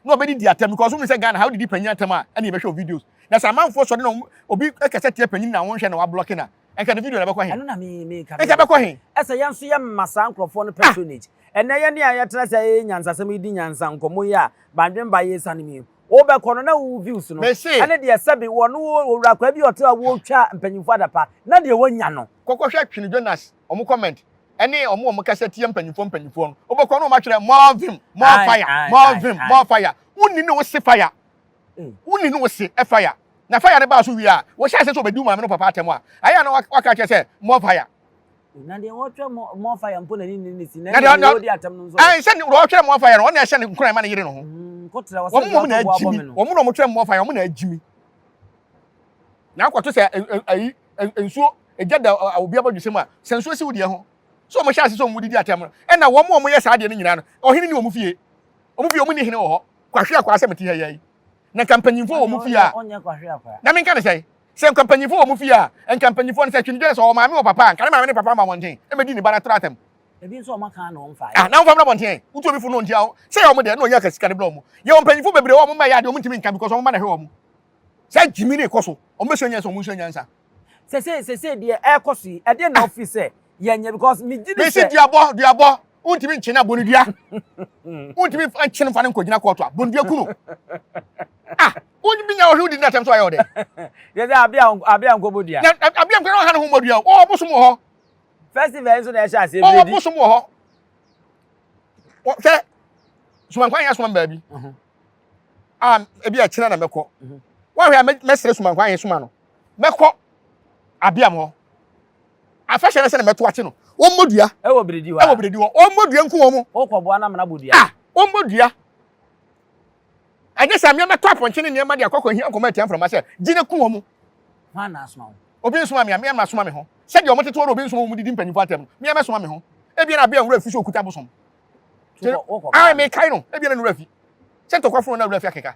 na ɔbɛdidi atɛm because wohu sɛ Ghana ha wodidi panyin atɛm a ɛne yɛbɛhwɛ wo videos na sɛ amanfoɔ sɔre na wɔn obi kasa tia panyin na wɔnhwɛ na wablɔke na nka ne video na ɛbɛkɔ he Ɛno na me meka nka ɛbɛkɔ he. Ɛsɛ yɛn nso yɛma saa nkurɔfoɔ no patronage. Ɛnnɛ yɛne a yɛtena ase a yɛyɛ nyansasɛm yi di nyansa nkɔmmɔ yi a Bandwen ba yi sane mu yi, wobɛkɔ no na wo views no Mese. ɛne deɛ sɛbe wɔ no wɔ owura akwaa bi a ɔte hɔ a ɔretwa mpanyimfoɔ adapa na deɛ wanya no. Kɔkɔhwɛ Twene Jonas wɔn comment ɛne wɔn a wɔkasa tia mpanyimfoɔ mpanyimfoɔ no wobɛkɔ no wɔatwerɛ more vim more fire more vim more fire wonni ne wo se fire mm. wonni ne wo se fire na fire no baa so wie a wɔhyɛ ase sɛ wɔbɛdi maame no papa atɛm a ayɛ a na waka kyerɛ sɛ more fire na deɛ wɔtwerɛ more fire mpo na ne ne ne si na deɛ wɔdi atɛm no nso ɛn sɛ deɛ wɔtwerɛ more fire no wɔn na ɛhyɛ ne nkuran ma ne yere no ho mm, wɔn mu wɔn na agyimi wɔn mu na wɔtwerɛ more fire wɔn na agyimi na akɔto sɛ ɛyi nsuo Egya da obi abɔdwesɛ mu a, sɛ nsuo si wo deɛ ho. So wɔhyɛ ase sɛ wɔn didi atɛm no? Ɛna wɔn a wɔyɛ saa adeɛ no nyinaa no, ɔhene ni wɔn fie? Wɔn fie, wɔnni hene wɔ hɔ. Kwahweakwaa sɛ mete ha yi ara yi. Na nka mpanyimfoɔ wɔ mo fie a, na menka no sɛn? Sɛ nka mpanyimfoɔ wɔ mo fie a, nka mpanyimfoɔ no, sɛ Twene-dwene, sɛ ɔwɔ maame wɔ papa a, nka ne maame ne papa mma mmɔnten mmɛdi ne ba no atoro atɛm. Ah, na wɔmfa mmra mmɔnten ɛ. Wotu obi fo no, ɔntia wo. Sɛ ɛyɛ wɔn deɛ, na ɔnya ka sika no brɛ wɔn. Yɛwɔ mpanyimfoɔ bebree wɔ hɔ a, wɔn mma yɛ adeɛ a wɔntumi nka because wɔn mma na ɛhwɛ wɔn. Saa gyimi no rekɔ so. Wɔbɛsua nyansa, wɔnsua nyansa. Sese sese deɛ ɛkɔ so yi ɛdeɛ na ɔfi sɛ yɛnyɛ because mi gyi mi sɛ. duabɔ duabɔ wontumi nkye na bonidua wontumi nkye no fa no nkɔgyina kɔɔto a bonidua ku no ah wontumi nya ɔhwe wodi no atɛm so ayɛ ɔdɛ yɛ sɛ abea abea nkɔbɔ dua abea nkɔbɔ ɔha no ho mmɔ dua o ɔwɔ bosom wɔ hɔ festival nso na ɛhyɛ aseɛ biredi ɔwɔ bosom wɔ hɔ sɛ sumankwan yɛ asoma m baabi mhm. a ebi ɛkyena na mɛkɔ mhm. woahwɛ a mɛsrɛ sumankwan yɛ soma no mɛkɔ Abiam hɔ. Afɛhyɛ no sɛ na mɛto akye no. Wɔmmɔ dua. Ɛwɔ biredi hɔ a. Ɛwɔ biredi hɔ. Wɔmmɔ dua nku wɔn. Wokɔboa no ama no abɔ dua. Ah! Wɔmmɔ dua. Ɛnyɛ sɛ mmea mɛtɔ apɔnkye ne nneɛma de akɔkɔ hia nkɔmɔ atia mframa sɛ gye no ku wɔn. Hwan na asoma wo? Obi nsoma me a, mmea mma soma me ho. Sɛdeɛ wɔn tete hɔ na obi nsoma wɔn didi mpanyinfoɔ atɛm no, mmea mɛsoma me ho. Ebia na Abiam wura fi sɛ okuta bosom. Wokɔ. Ah, mekae no. Ebia na ne wura fi. Sɛ ntɔkwa funu na wura fi akeka.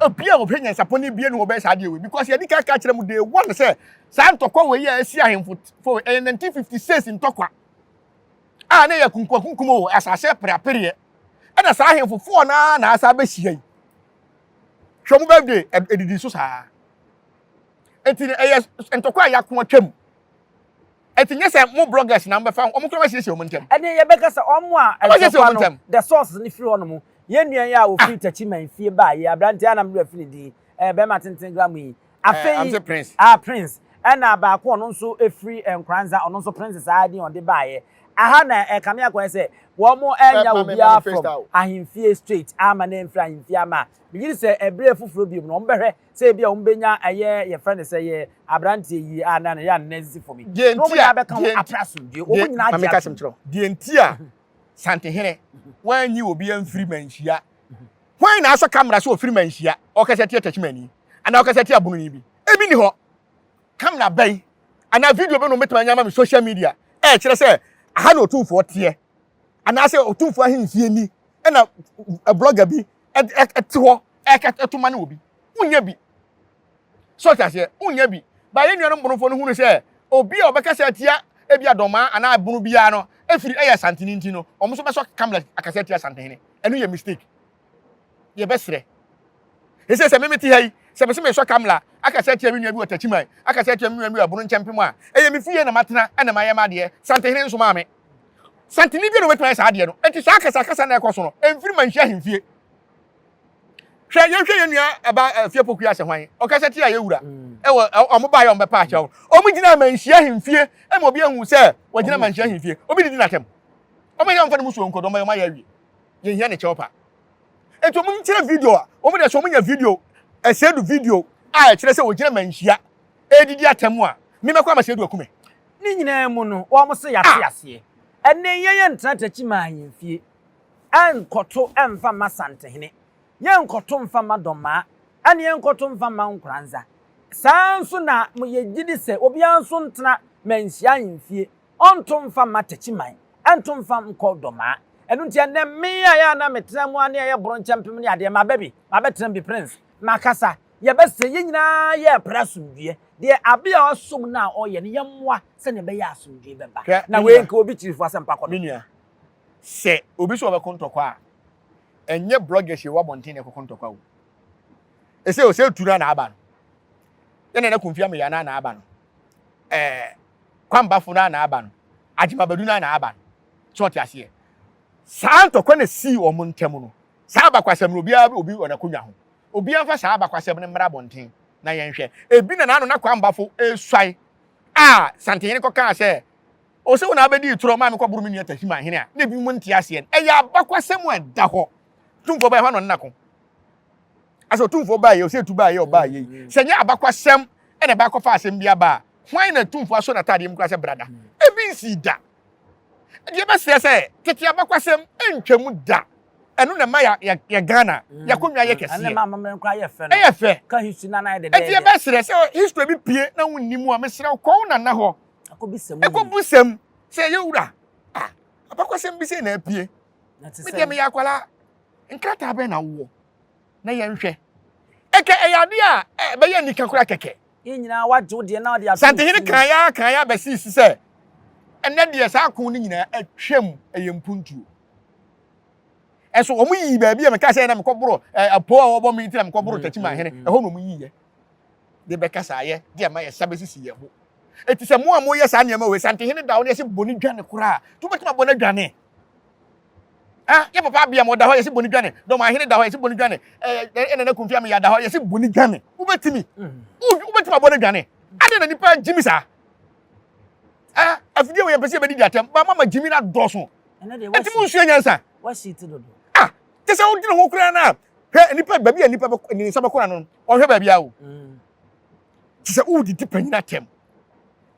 Obi a ɔhwɛ nyansapɔ no abue ne ho bɛyɛ saa adeɛ wei because yɛadi kan ka kyerɛ mu day one sɛ saa ntɔkwa wei a asi ahemfo fo ɛyɛ 1956 ntɔkwa a na ɛyɛ kunkumakunkum o asase apereapereɛ ɛna saa ahemfo foɔ no ara na asa abɛhyia yi hwɛ ɔmo birthday ɛdidi so saa nti ɛyɛ ntɔkwa a yɛako atwam Ɛti nyɛ sɛ mo bloggers na mobɛfa ho, ɔmo koraa bɛsiesie ɔmo ntɛm. Ɛnneɛ yɛbɛka sɛ ɔmo a ɛntɔkwa no, the source no firi hɔnom. Yɛn nua yi a ɔfiri Techiman fie baa yi, aberanteɛ a na me werɛ afi ne din, ɛɛ bɛɛma tenten gram yi. Afei, Ɛɛ, ɔse Prince. ah, Prince. Ɛna baako a ɔno nso firi Nkranza, ɔno nso Prince saa din a ɔde baeɛ. Aha na ɛkame akɔyɛ sɛ wɔmo ɛnya Pɛɛpma, mema obiara no from freestyle. ahemfie straight, amma na ɛmfiri ahemfie amma a, megye di sɛ ɛberɛ foforɔ biom no, wɔbɛhwɛ sɛ ebia wɔn bɛnya ɛyɛ yɛfrɛ no sɛ yɛ aberanteɛ yie a na ne yɛ anena sisi fam yi na wɔn nyinaa bɛka ho apɛ asomdue wɔn nyinaa gye atom kyerɛ deɛ nti a santehene wɔanyi obi amfiri manhyia hwan na asɛ kamera sɛ ɔfiri manhyia ɔkasa tia takyimani anaa ɔkasa tia bononi bi ebi ni hɔ kamera bɛn anaa video bɛn na wɔbɛtumi anya ama me social media ɛkyerɛ sɛ aha na ɔtumfoɔ teɛ anaasɛ ɔtumfoɔ ahemfie ni ɛna blogger bi ɛte hɔ ɛto ma ne wɔ bi wonya bi so ɔte aseɛ wonya bi ba yɛn nuanom bonofoɔ no hunu sɛ obi a ɔbɛkasa atia ebi adɔmaa anaa bono biara no ɛfiri ɛyɛ asantene nti no ɔmo so bɛsɔ kamla akasa atia asantehene ɛno yɛ mistake deɛ bɛserɛ ɛsɛ sɛ meme te ha yi sɛ mese mesɔ kamla akasa atia me nua bi wɔ takyiman akasa atia me nua bi wɔ abono nkyɛmpem a ɛyɛ me fie na matena ɛna mayɛ m'adeɛ santehene nso maa me santene bi na wɔbɛtumi ayɛ saa adeɛ no ɛnti saa akasa akasa na ɛkɔ so no ɛmfiri manhyi ahemfie hwɛ yɛnhwɛ yɛ nua ɛba eh, fie pokua asɛ hwan ɔkasa tia yɛ wura mm. ɛwɔ ɔmo baayɛ ɔmo bɛpa akyɛw ɔmo gyina manhyi ahemfie ɛma obi ahu sɛ wɔgyina manhyi ahemfie obi didi n'atɛm ɔmo yɛ ɔmfa ne mu suo nkɔdɔm ɛyɛ ɔmo ayɛ awie yɛhia ne kyɛw pa. Enti wɔn nkyerɛ video a wɔn de sɛ wɔn nya video ɛsɛdu video a ɛkyerɛ sɛ wɔgyina manhyia ɛredidi atɛm a me mɛkɔ ama sɛdu akume. Ne nyinaa mu no wɔn se yɛate aseɛ ɛnɛ yɛn yɛn ntena takyi maa yɛn fie ɛnkɔto ɛmfa mma santehene yɛn nkɔto mfa mma dɔmmaa ɛne yɛn nkɔto mfa mma nkoranza saa nso na mo yɛgyidi sɛ obiara nso ntena manhyia yɛn fie Ɔnto mfa mma Takyiman, ɛnto mfa nkɔ Domaa. Ɛno nti ɛnnɛ me a ɛyɛ a na metra mu ara ne ɛyɛ bronkyɛmpem ne adeɛ, maba bi, mabɛtra mu bi, Prince, makasa, yɛbɛsrɛ, yɛn nyinaa yɛrepere asomdwoeɛ, deɛ Abia ɔsom no a ɔreyɛ no, yɛmmoa sɛdeɛ ɛbɛyɛ a asomdwoeɛ bɛba. Hwɛ, Na me wei nua, nka obi kyiri fo asɛm pa kɔ me do. nua, sɛ obi sɛ ɔbɛko ntɔkwa a, ɛnyɛ bloggers a ɛwɔ abɔnten na ɛkɔko ntɔkwa o. Ɛsɛ o, sɛ ɛtu no a na aba no. Yɛn Nana Kofi Ameyaa no a na aba no. ɛɛ kwambafo no ara na aba no, agyemabadu no ara na aba no. So ɔte aseɛ? Saa ntɔkwa na esii wɔn ntam no. Saa abakwasɛm no, obiara obi wɔ n'akonnwa ho. Obiara mfa saa abakwasɛm no mmra abɔnten na yɛnhwɛ. Ebi na n'ano na kwambafo resuae a Santehene kɔkaa sɛ, O sɛ wo na abɛdi itorɔ ma mekɔboro me nua Tahiman hene a, na ebinom nte aseɛ no. Ɛyɛ abakwasɛm a ɛda hɔ. Tumfoɔ Ɔbɛahe hɔ ara na ɔno na ko. asɛ ɔtumfoɔ baa yei ɔsɛ etu baa yei ɔbaa yei mm. sɛ nyɛ abakwasɛm ɛna ɛbaa kɔfa asɛm bi aba a hwan na tumfoɔ asɔ n'ataadeɛ mu kura sɛ brada mm. ebi nsi da deɛ bɛsrɛ sɛ tete abakwasɛm ntwam da ɛno na ɛma yɛ ghana mm. yɛakonnwa yɛ kɛseɛ ɛyɛ fɛ ɛdeɛ bɛsrɛ sɛ history bi pie na wonni mu a mesrɛ wo kɔw nana hɔ ɛkɔbu sɛm sɛ yɛwura abakwasɛm bi sɛ na apue medeɛ meyɛ akwalaa Nkrataa bɛn na wowɔ? Na yɛnhwɛ. Ɛkɛ, ɛyɛ adeɛ a ɛbɛyɛ anika koraa kɛkɛ. Yɛn nyinaa, wɔagye wo deɛ na wɔde ato nsuo mu. Santehene kaa yi ara kaa yi ara bɛsee so sɛ, Ɛnnɛ deɛ, saa ako no nyinaa atwam, ɛyɛ mpuntuo. Ɛso wɔyii baabi a mekaa sɛ na mekɔboro apoo a wɔbɔ me nti na mekɔboro Takyimahene, ɛhɔ na wɔyiiɛ de bɛkasaeɛ de ama yɛsa bɛsisi yɛn ho. Enti sɛ mo a moyɛ saa nneɛma wei, Santehene da wo ne ase bɔ no dwane koraa, nti wobɛtumi abɔ no adwane. Ah, yɛ papa abia ma ɔda hɔ yɛsi boni dwane. Dɔm ahene da hɔ yɛsi boni dwane. Eh, ɛna na kumfia me yada hɔ yɛsi boni dwane. Wobɛtumi. Wobɛtumi abɔ ne dwane. Ade na nipa gyimi saa. Ah, afidie wɔ yɛn pɛsɛ yɛbɛdi di atɛm. Ba mama gyimi na dɔso. Ɛti mu nsuo nyansa. Wasi ti dodo. Ah, te sɛ wodi ne ho koraa na hwɛ nipa baabi a nipa bɛkɔ ne nsa bɛkɔ na no. Ɔhwɛ baabi awo. Mm. Te sɛ wodi di panyin atɛm.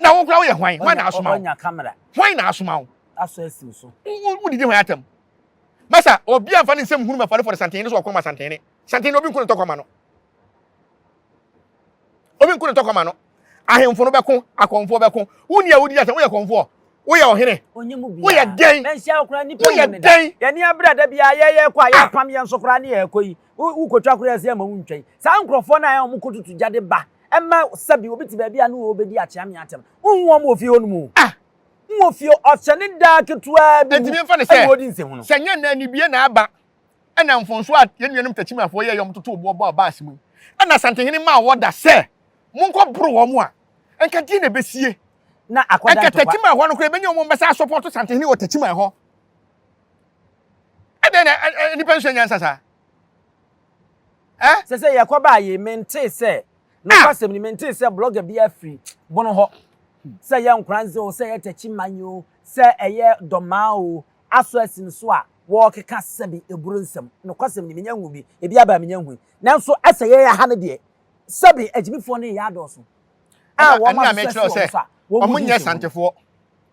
Na wo koraa woyɛ hwan? Hwan na asoma wo? Hwan na asoma wo? asɔ asi wo so. Wo wo didi hwan atam? Masa obi anfa ne nsam hunu mafɔre fɔre santene so ɔkɔma santene. Santene obi nko ne tɔkɔma no. Obi nko ne tɔkɔma no. Ahemfo no bɛko, akɔmfoɔ bɛko. Wo ni a wodi asɛm, woyɛ kɔmfoɔ. Woyɛ ɔhene. Onye mu bia. Woyɛ dɛn? Manhyia wo koraa nipa mu ne da. Yɛne yɛn brɛ da biara yɛ yɛkɔ a yɛpam yɛn so koraa ne yɛkɔ yi. Wo kotwa koraa sɛ ma wo ntwɛn. Saa nkurɔfoɔ no a wɔn kɔtutu gya de ba ɛma sɛbi obi te baabi a ne wɔbɛdi akyea me atɛm. Wonhu wɔn wɔ fie hɔ nom o. N wɔ fie ɔhyɛ ne daa ketewaa bi mu. Ɛtumi mfa ne sɛ, sɛ nyɛ na anibie na aba, ɛna mfonso a yɛn nuanom Takyimafoɔ yɛɛ yɛ wɔn totoo boɔ bɔɔ baase mu, ɛna Asantehene maa wɔda sɛ monkɔ boro wɔn a, ɛnka deɛ na ɛbɛsie? Na akɔda ntɔkwa. Ɛnka Takyimafoɔ no koraa ɛbɛnya wɔn bɛsa asɔpɔto Asantehene wɔ Takyima hɔ. Ɛdɛn na nnipa nsua nyansa saa? Sɛ sɛ yɛkɔbaa yi, mentee sɛ Nokwasɛm ni, mentee sɛ blogger biara firi Bono hɔ, sɛ ɛyɛ Nkoranze o, sɛ ɛyɛ Takyi Manyɛ o, sɛ ɛyɛ Dormaa o, Aso Asin so a wɔrekeka sɛbe aburo nsɛm. Nokwasɛm ni, mennya nhuu bi. Ebi aba a mennya nhui. Nanso sɛ yɛyɛ ha no deɛ, sɛbe agyimifoɔ no reyɛ adɔɔso a wɔahwehwɛ sɛ wɔn nso a wɔn mu di nkyɛmu.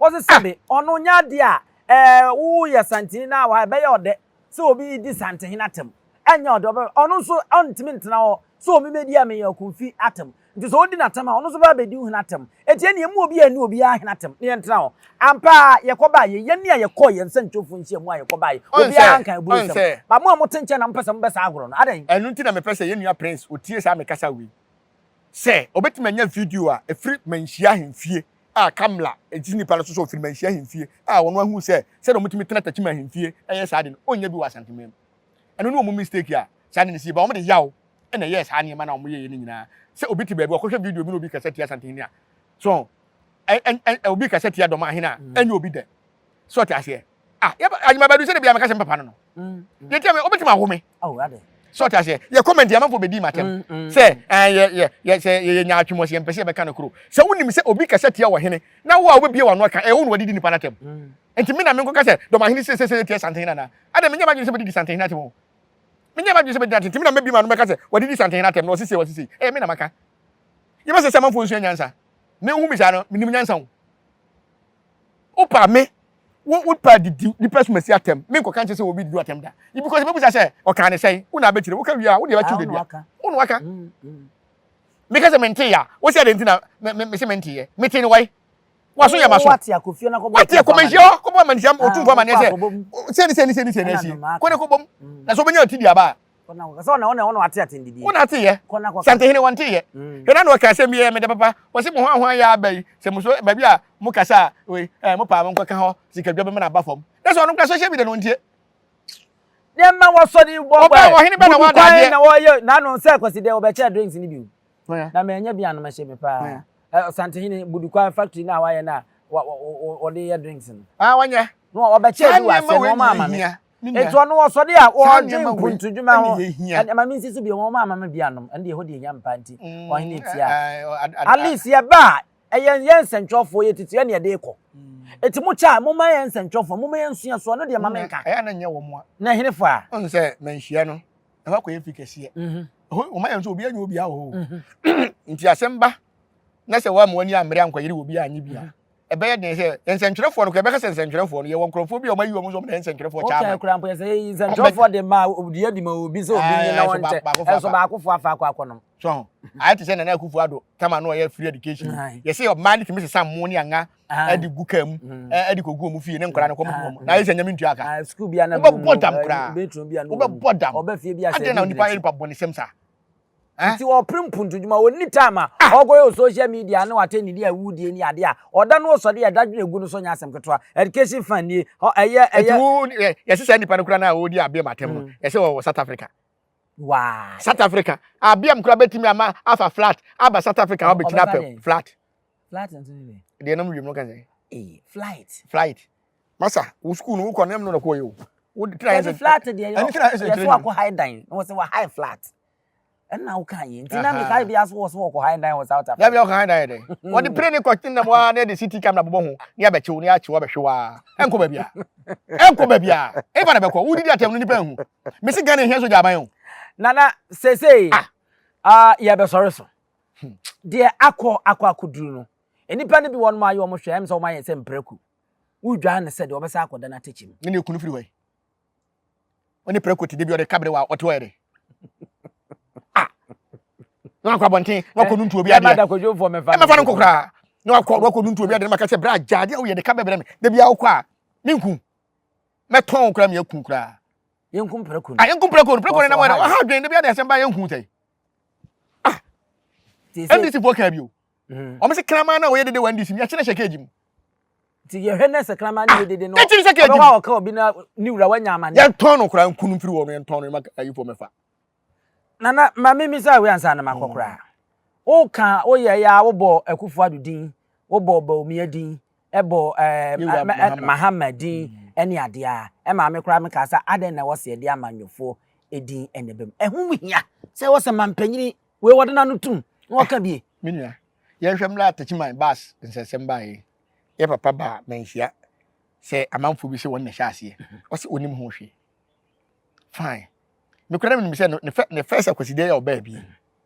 Wɔse sɛbe ɔno nyɛ adeɛ a ɛɛ woyɛ santini na wa ɛbɛyɛ ɔdɛ sɛ obi redi santehene atam. Ɛnyɛ ɔdɛ, ɔbɛ ɔno nso ɔntumi ntena hɔ sɛ ɔme mɛdi ɛme yɛ ɔkunfi atam. Nti sɛ ɔdi n'atam a ɔno nso bɛba abɛdi wo hene atam. Enti ɛne yɛn mu obi a ɛne obiara hene atam na yɛntena hɔ. Ampa ara yɛkɔ baa yei, yɛn a yɛkɔɔ yɛn sɛnkyɛwfoɔ nhyiamu a yɛkɔ baeɛ, Ɔn sɛ, obiara nkae ɔn aburusɛm. sɛ. But mo a mote nkyɛn na mopɛ sɛ mobɛ saa agorɔ no, adɛn? Ɛno nti na mepɛ sɛ yɛn nua Prince ɔtie saa me kasa wei. Sɛ ɔbɛtumi anya video a ɛfiri Manhyia Ahemfie a Kamla gyidi nnipa no so sɛ ɔfiri manhyia ahemfie a wɔn ahunu sɛ sɛdeɛ wɔtumi tena takyi ma ahemfie yɛ saa ade no ɔnnya bi wɔ Asantema mu. Ɛno ne wɔn mistake a saa ade no si ba. Wɔde yaw na ɛyɛɛ saa nneɛma no a wɔyɛeɛ no nyinaa. Sɛ obi te baabi ɔkɔhwɛ video bi na obi kasa tia Asantehene a, so obi kasa tia Dɔm ahene a, ɛnyɛ obi dɛ. so ɔte aseɛ ah yɛba adwuma bɛdu sɛ de bia meka sɛ papa no no yɛtia me wobɛtumi awo me so ɔte aseɛ yɛ comment yɛ amanfoɔ bɛdi matɛm sɛ sɛ yɛyɛ nyaatwem ɔsɛ yɛmpɛ sɛ yɛbɛka no koro sɛ wonim sɛ obi kasa tia wɔ hene na wo a wobɛbie wɔ ano aka ɛyɛ wo na wadidi nipa no atɛm nti me na menkɔka sɛ dɔmahene sɛ sɛ sɛ yɛtia santehene anaa adɛ menyɛ madwene sɛ bɛdidi santehene atɛm o menyɛ madwene sɛ bɛdidi atɛm nti me na mɛbie ma no mɛka sɛ wadidi santehene atɛm na ɔsesei ɔsesei ɛyɛ me na maka yɛbɛsɛ sɛ amanfoɔ nsua nyansa ne wohu me saa no menim nyansa o Wopa me, wo wopa didi nnipa sumasi atɛm. Me nkɔka nkyɛ sɛ obi didi atɛm da. Ibi kɔ sɛ bɛbusa sɛ ɔkaa ne sɛn, wo na abɛkyerɛ. Woka wie a, wo deɛ bɛtwe wo dadua. Wo na waka. Mm, mm. Meka sɛ mentee ya. Wo sɛ adɛn nti na me, me, me se menteeɛ. Metee ne wae. Waso yɛ maso. Wate akɔfie na kɔbɔ Wate akɔmanhyia hɔ, kɔbɔ amanhyia, ɔtumfoɔ amanneɛ sɛ, sɛ ne sɛ ne sɛ ne sɛ na asie. Kɔ na kɔbɔ mu. Na sɛ wobɛnya ɔte di aba a, Wona te yɛ santehene wɔn te yɛ hena na ɔka asɛm bi yɛ mede papa wɔsi mo hwan hwan yɛ aba yi sɛ mo so baabi a mo kasa a wei ɛɛ mo paa mo nkɔ ka hɔ sikadwa bɛma na aba fam na sɛ ɔno kura social media na wɔn tie deɛ mma wɔsɔ ne bɔ bɔ ɛ ɔhene bɛ na wɔn adadeɛ na wɔyɛ n'ano nsɛ kɔsi deɛ wɔbɛkyɛ drinks ni bi na mɛ ɛnyɛ bi anum ɛhyɛ mi paa ɛ santehene budukwan factory na wɔayɛ na wɔde yɛ drinks no. ah wɔnyɛ na wɔbɛkyɛ bi wɔ aseɛ na wɔn ama mi. Enti ɔno wɔ sɔde a ɔdwen mpontodwuma ho. Ɛnde ma mensi so bio, wɔn a mama bi anom, ɛnde ɛhɔ deɛ ɛhia mpa nti, ɔhene tia. At least yɛba a, ɛyɛ yɛn nsɛntwerɛfoɔ, yɛ tutu ɛne ɛde kɔ. Enti mo kyɛ a, mo ma yɛn nsɛntwerɛfoɔ, mo ma yɛn nsua so, ɛno deɛ ma menka. Ɛyɛ na nyɛ wɔn a. Na ɛhene fo a. Ɔn sɛ manhyia no, ɛhɔ akɔ yɛ fi kɛseɛ. Mhm. Ɛhɔ wɔn ayɛ nso obi anyi obi ahɔ. Mhm. Nti asɛm ba, na sɛ wɔn amoa ni amere ankɔyere obi anyi bi a, mhm. ɛbɛyɛ den sɛ nsɛntwerɛfoɔ no kora ɛbɛka sɛ nsɛntwerɛfoɔ no yɛwɔ nkurɔfoɔ bi a wɔayi wɔn nso wɔn nsɛntwerɛfoɔ kyɛ ama kora mpo yɛ sɛ yɛyi nsɛntwerɛfoɔ de ma ɔdi adi ma obi sɛ obi nye na wɔn nkyɛ ɛnso baakofoɔ afa akɔ akɔ nom so ho ayɛ te sɛ nana akufo ado tama no ɔyɛ free education yɛ sɛ ɔmaa de tumi sesa mmo ne anga ɛde gu kaa mu ɛde kɔgu wɔn fie ne nkora no kɔmɔ wɔn na ayɛ sɛ nyame ntua ka wobɛbɔ dam koraa wobɛbɔ dam adeɛ na nipa yɛ nipa bɔ ne sɛm saa Ntsi ɔper mpontu-dwuma, onni time a ɔkɔyɛ wɔ social media no, atsɛndzidzi a ewudie nye ade a ɔda no ɔsɔde a dadwen egu no so nnyɛ asɛm ketewa. Education fã nie, hɔ ɛyɛ, ɛyɛ. Ntsi wo, yɛse saa nipa no koraa no a ɔredi Abiam atem no, yɛse ɔwɔ South Africa. Why? South Africa, Abiam koraa bɛtumi ama afa flat aba South Africa abɛkyina pɛ, flat. Flat nso ne dɛn? Deɛ ɛnam wiem no ka sɛ. Eyi, flight. Flight. masa wo sukuu no wokɔ nam no na kɔyɛ o wode tena yɛ sɛ flat deɛ yɛ yɛ so akɔ high dan na wɔsɛ wɔ high flat ɛna woka yɛ nti na meka bi aso wɔ so wɔkɔ high dan wɔ south africa yɛbɛ ɔkɔ high dan yɛ dɛ hmm. wɔde pere ne kɔte nam waa na yɛde city camera bobɔ ho ne abɛkyew ne akyew abɛhwe waa ɛnkɔ baabi a ɛnkɔ baabi a ɛba na bɛkɔ wodidi atɛm no nipa nhu mesi ghana hia sogya aban o nana sesei ah. ah, yɛbɛsɔre so hmm. deɛ akɔ akɔ akɔduru no nnipa no bi wɔnom ayɛ ɔmo hwɛ ɛm sɛ ɔmo ayɛ sɛ mprɛku Wodwaa no sɛ deɛ ɔbɛsan akɔda n'atɛkyɛ mu. Ne ne kunu firi hɔ yi. Ɔne prɛko te debi ɔde ka bere wa ɔte hɔ yɛ dɛ. Ah. Na wakɔ abɔnten na wakɔ nuntu obi adeɛ. Ɛmɛfa no nkokora. Na wakɔ wakɔ nuntu obi adeɛ na maka sɛ bra gya adeɛ woyɛ de ka bɛbrɛ me. Debi awokɔ a menku. Mɛtɔn wo kora meyɛ ku kora. Yɛnku prɛko no. Ah yɛnku prɛko no prɛko no nam ɔha adwene debi adeɛ asɛm ba yɛnku sɛ. ah ndc fo kaa bi o mhm. wɔn sɛ kraman na wɔyɛ dede wɔ ndc mu yɛkyerɛ hyɛ keegi mu nti yɛhwɛ na sɛ kraman yɛ dede no ɛkyerɛ hyɛ keegi mu ɔbɛwɔ a ɔka obi na ne wura wanya amane yɛntɔn no koraa nkunu mfiri wɔ no yɛntɔn no ɛma ayifo mɛfa nana maame mi sɛ awi ansa na makɔ koraa woka woyɛ yɛ a wobɔ akufo ado din wobɔ baomia din bɔ Mahama din ne adeɛ a, ɛmaa me koraa mekaa sɛ adɛn na ɛwɔ sɛ yɛde amanyɔfoɔ din na ɛbam. Ɛho hia sɛ ɛwɔ sɛ mampanyini wei wɔde n'ano tom na wɔka ah, bie. Me nua, yɛnhwɛ mmra Atakyiman bus nsɛnsɛm baeɛ yɛ papa baa manhyia sɛ amanfoɔ bi sɛ wɔn na ɛhyɛ aseɛ ɔsɛ ɔnim ho hwee fine mekora menim sɛ ne fɛ ne fɛ sɛ kwasideɛ yɛ ɔbaa bi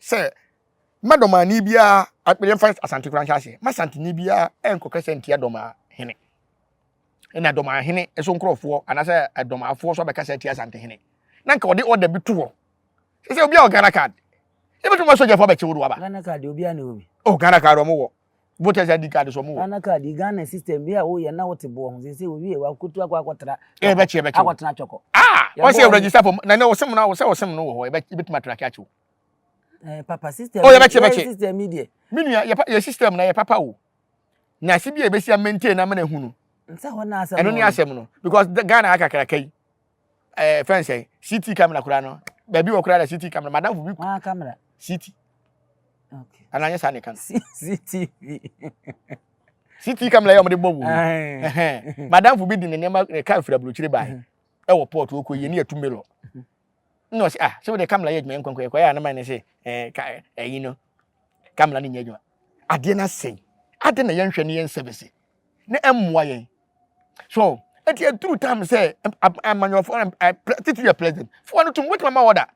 sɛ mma dɔmaani biara, yɛmfa Asante koraa nhyɛ aseɛ, mma Asanteni biara nkɔ kasa ntia dɔmaa hene. Ɛna dɔmaa hene so nkurɔfoɔ anaasɛ dɔmaafoɔ so abɛkasa atia Asante hene. Na nka ɔde order bi to hɔ. Sɛ sɛ obiara wɔ Ghana card. Yɛbɛtumi ma sogyafoɔ abɛkye wo de waba. Ghana card deɛ obiara ne wɔ bi. Oh, Ghana card ɔmo wɔ. voters id card sɛ ɔmo wɔ. ghana card yi ghana system bi a woyɛ na wote boɔ ho sese wowie wakotu akɔ akɔtra ɛ ɛbɛ kye ɛbɛ kye akɔtena twɔkɔ ah wɔn sɛ register fam na ne ɔsɛm na ɔsɛ ɔsɛm no wɔ hɔ ɛbɛ ebɛtumi atra kye akyew ɛɛ eh, papa system oh yɛbɛ kye ɛbɛ kye system yi deɛ me nua yɛ yɛ system na yɛ papa o na ase bi a ebesi a maintain na mena ehunu ɛno ne asɛm no because ghana akakraka yi ɛɛ fɛn sɛ city camera koraa no baabi wɔ koraa na city camera madamfo bi. wɔn camera. city okay ana nyɛ saa ne kan. cctv. city camera yɛ wɔn de bɔ wɔ mu madamfo bi di ne nneɛma ne kaa fira burokyire baa mhm. ɛwɔ port okɔ yie ne yɛ tumbe lɔ na ɔsi ah sɛ wɔde camera yɛ adwuma nkɔnkɔ yɛ kɔ yɛ anam ne se ɛɛ ka ɛyi no camera ne nyɛ adwuma adeɛ na sɛn adeɛ na yɛn hwɛ ne yɛn sɛbɛsi ne ɛmmoa yɛn so eti eduru time sɛ amanyɔfo titi yɛ president fo no tum wotumi ma wɔda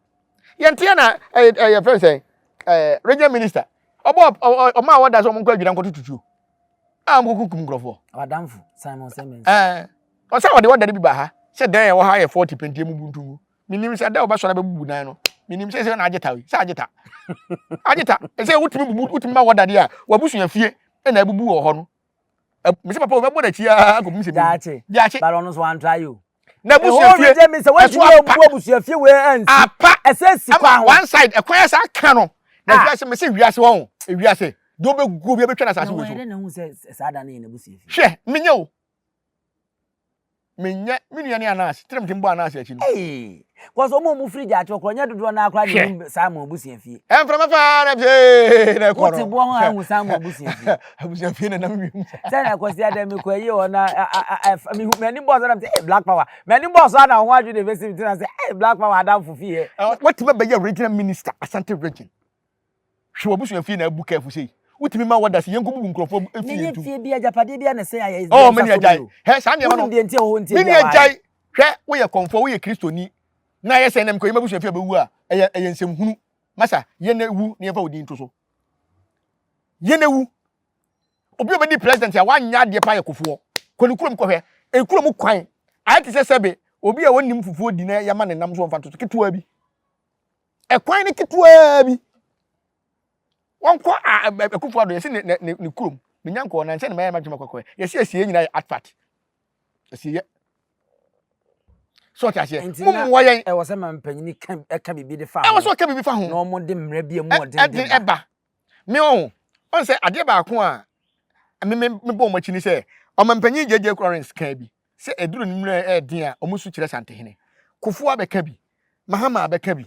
yɛnte yɛ na ɛyɛ ɛyɛ fɛn sɛ ɛɛ regional minister ɔbɔ ɔma wɔda sɛ ɔmo nkɔ adwira nkɔ tututuo a ɔmo kɔ kum nkorɔfoɔ. ɔadamfo simon sɛmɛn. ɛɛ ɔsɛ ɔde wɔda no bi ba ha sɛ dan ɛwɔ ha yɛ forty pentie mu buntu mu menim sɛ dɛ ɔbɛsɔre bɛbubu dan no menim sɛ sɛ na agye ta yi sɛ agye ta agye ta ɛsɛ wotumi bubu wotumi ma wɔda deɛ a wabusua fie ɛna abubu wɔ hɔ no mese papa o mɛbɔ n'akyi aa nkɔpem sɛ daakye daakye bala ɔno so antra yi o na busuafie ɛhɔ mi sɛ wɔn ti mi yɛ bu abusuafie wɔ ɛnsi apa ɛsɛ si kwan ho one side ɛkwan yɛ saa kan no na ah. wiase mese wiase wɔn wiase deɛ ɔbɛgu obi ɛbɛtwa na asase wɔ so hwɛ menyɛ o menyɛ me nua ne anaase tirimtim bɔ anaase akyi no. Hey, kɔsɛ ɔmo ɔmo firi gya akyerɛ korɔ nyɛ dodoɔ naa koraa ne nim Simon abusua fie. Ɛmframa paa na pee na ɛkɔ no. Wote boɔ ho ahu Simon abusua fie. Abusua fie na nam wiem. Sɛ na kɔsi adɛ me kɔ ayie hɔ na m'ani bɔɔ so na sɛ black power m'ani bɔɔ so ana ho adwe na ebesi me ti na sɛ black power adamfo fie. Watumi abɛyɛ regional minister Asante region. Hwɛ w'abusua fie na abu kɛɛfo sei. Wotumi ma wɔda se yɛnkɔbubu nkurɔfoɔ fie ntom. Meyɛ tie bi agyapadeɛ bi a na ɛsɛ ayɛ Israel nsa so bio. Hɛ saa nneɛma no. Wonim deɛ nti a ɛwɔ hɔ nti ebi a wɔayɛ. Gyae. Hwɛ woyɛ kɔmfoɔ woyɛ Kristoni na ayɛ sɛ ɛnɛ mekɔyi m'abusua fie a bɛwu a ɛyɛ ɛyɛ nsɛm hunu. Masa yɛn awu na yɛmfa wo din to so. Yɛn awu. Obi a ɔbɛdi president a wanyɛ adeɛ paa yɛ kofoɔ. Kɔ ne kurom kɔhwɛ. Ekuro mu kwan ayɛ te sɛ sɛbe obi a ɔnnim fufuo di na yɛama ne nam so ɔmfa nto so ketewa bi. Ɛkwan no ketewaa bi. Wɔnkɔ Akufo Addo, yɛsi ne ne ne kurom. Menya nkɔɔ na nkyɛn na mɛyɛ m'adwuma kɔkɔɛ. Yɛsi asieɛ nyinaa yɛ atpat. Asieɛ. So ɔte aseɛ. Mo mmoa yɛn. Ɛwɔ sɛ ma mpanyini ka ɛka biribi de fa ho. Ɛwɔ sɛ ɔka biribi fa ho. Na wɔn de mmara bi a mu ɔden den ba. Me o, ɔn sɛ adeɛ baako a me me me bɔ wɔn akyi ne sɛ ɔmanpanyin JJ Currence kaa bi sɛ aduru no mmerɛ ɛyɛ den a wɔn su kyerɛ Santehene. Kufuor abɛka bi, Mahama abɛka bi,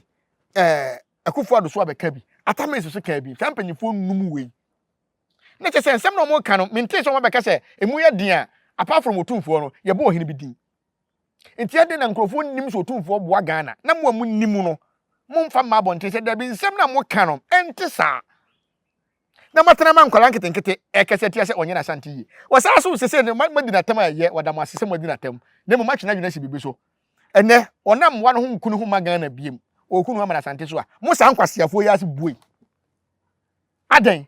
ɛɛ Akuffo Addo so abɛka bi, Atta Mills so kaa bi, saa mpanyinfoɔ nnum wei. Na kyɛ sɛ nsɛm na wɔn reka no mentee sɛ wɔn abɛka sɛ emu yɛ den a apart from Otumfoɔ no yɛbɔ ɔhene bi din. Nti ɛdɛn na nkurɔfoɔ nnim sɛ Otumfoɔ boa Ghana na mo a monnim no momfa mma abɔnten sɛ dabi nsɛm no a moka no ɛnte saa na moatena ma nkwadaa nketenkete ɛkɛse atia sɛ ɔnyɛ n'Asante yie wɔ saa so sesei no moadi no atɛm a ɛyɛ wɔda mo ase sɛ moadi no atɛm na mmom moatwe n'adwene asi biribi so ɛnɛ ɔnam mmoa no ho nku ne ho mma Ghana biem ɔreku ne ho ama n'Asante so a mo saa nkwaseafoɔ yi ase bue adɛn?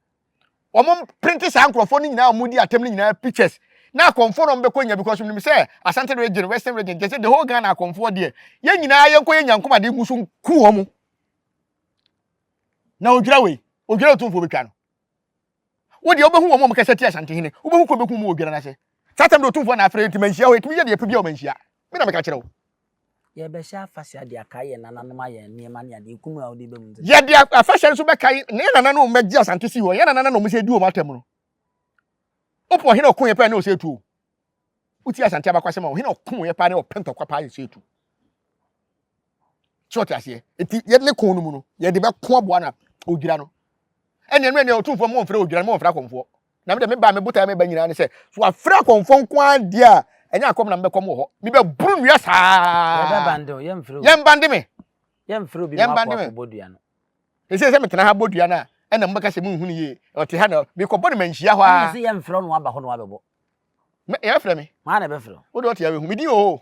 wɔn printe saa nkurɔfoɔ no nyinaa a wɔn di atam no nyinaa pictures na akɔnfoɔ na wɔn bɛkɔ nya because nim sɛ asante region western region gyɛ sɛ the whole ghana akɔnfoɔ deɛ yɛn nyinaa yɛn kɔ yɛn nyankom ade ngu so nku wɔn na odwira wei odwira otumfoɔ bɛtwa no wo deɛ wobɛhu wɔn a wɔkasa ti asante hene wobɛhu kɔ bɛku mu odwira no ase saa tam de otumfoɔ na afrɛ nti manhyia hɔ ɛtumi yɛ deɛ pɛ bi a wɔmanhyia Me na meka kyerɛ wo. Yɛrebɛhyɛ afahyɛ de akae yɛn nananom ayɛ nneɛma ne adeɛ kunu a wode ba mu. Yɛde afahyɛ nso bɛkae na yɛn nananom a wɔbɛgye Asante sii hɔ, yɛn nananom na wɔsɛ di wɔn atɛm no. Wopɛ ɔhene a ɔko yɛ paa ne ɔsɛ etu o. Wotie Asante abakwasɛm a ɔhene a ɔko yɛ paa ne ɔpɛ ntɔkwa paa yɛ sɛ etu. Sɛ ɔte aseɛ nti yɛde ne ko no mu no yɛde bɛko aboa no a ɔdwira no. Ɛnneɛ no ɛnneɛ ɔtumfoɔ ma wɔmfrɛ ɔdwira no ma wɔmfrɛ akɔmfoɔ. Na me de, me ba a me botae a meba nyinaa ne sɛ, so wɔafrɛ akɔmfoɔ nko ara deɛ a, ɛnyɛ akɔm na mebɛkɔm wɔ hɔ. Mebɛboro nnua saa. Yɛbɛbande wo, yɛmfrɛ obi. Yɛmbande me. Yɛmfrɛ obi mma akɔ akɔbɔ dua no. Ɛsɛ sɛ metena ha bɔ dua no a, ɛnna mobɛka sɛ monhu no yie. Ɔte ha na mekɔbɔ no manhyia hɔ ara. Ɛnna sɛ yɛmfrɛ no aba hɔ na wabɛbɔ. yɛ fɛ me maa na ɛbɛfrɛ wo de ɔte awɛhu medin oo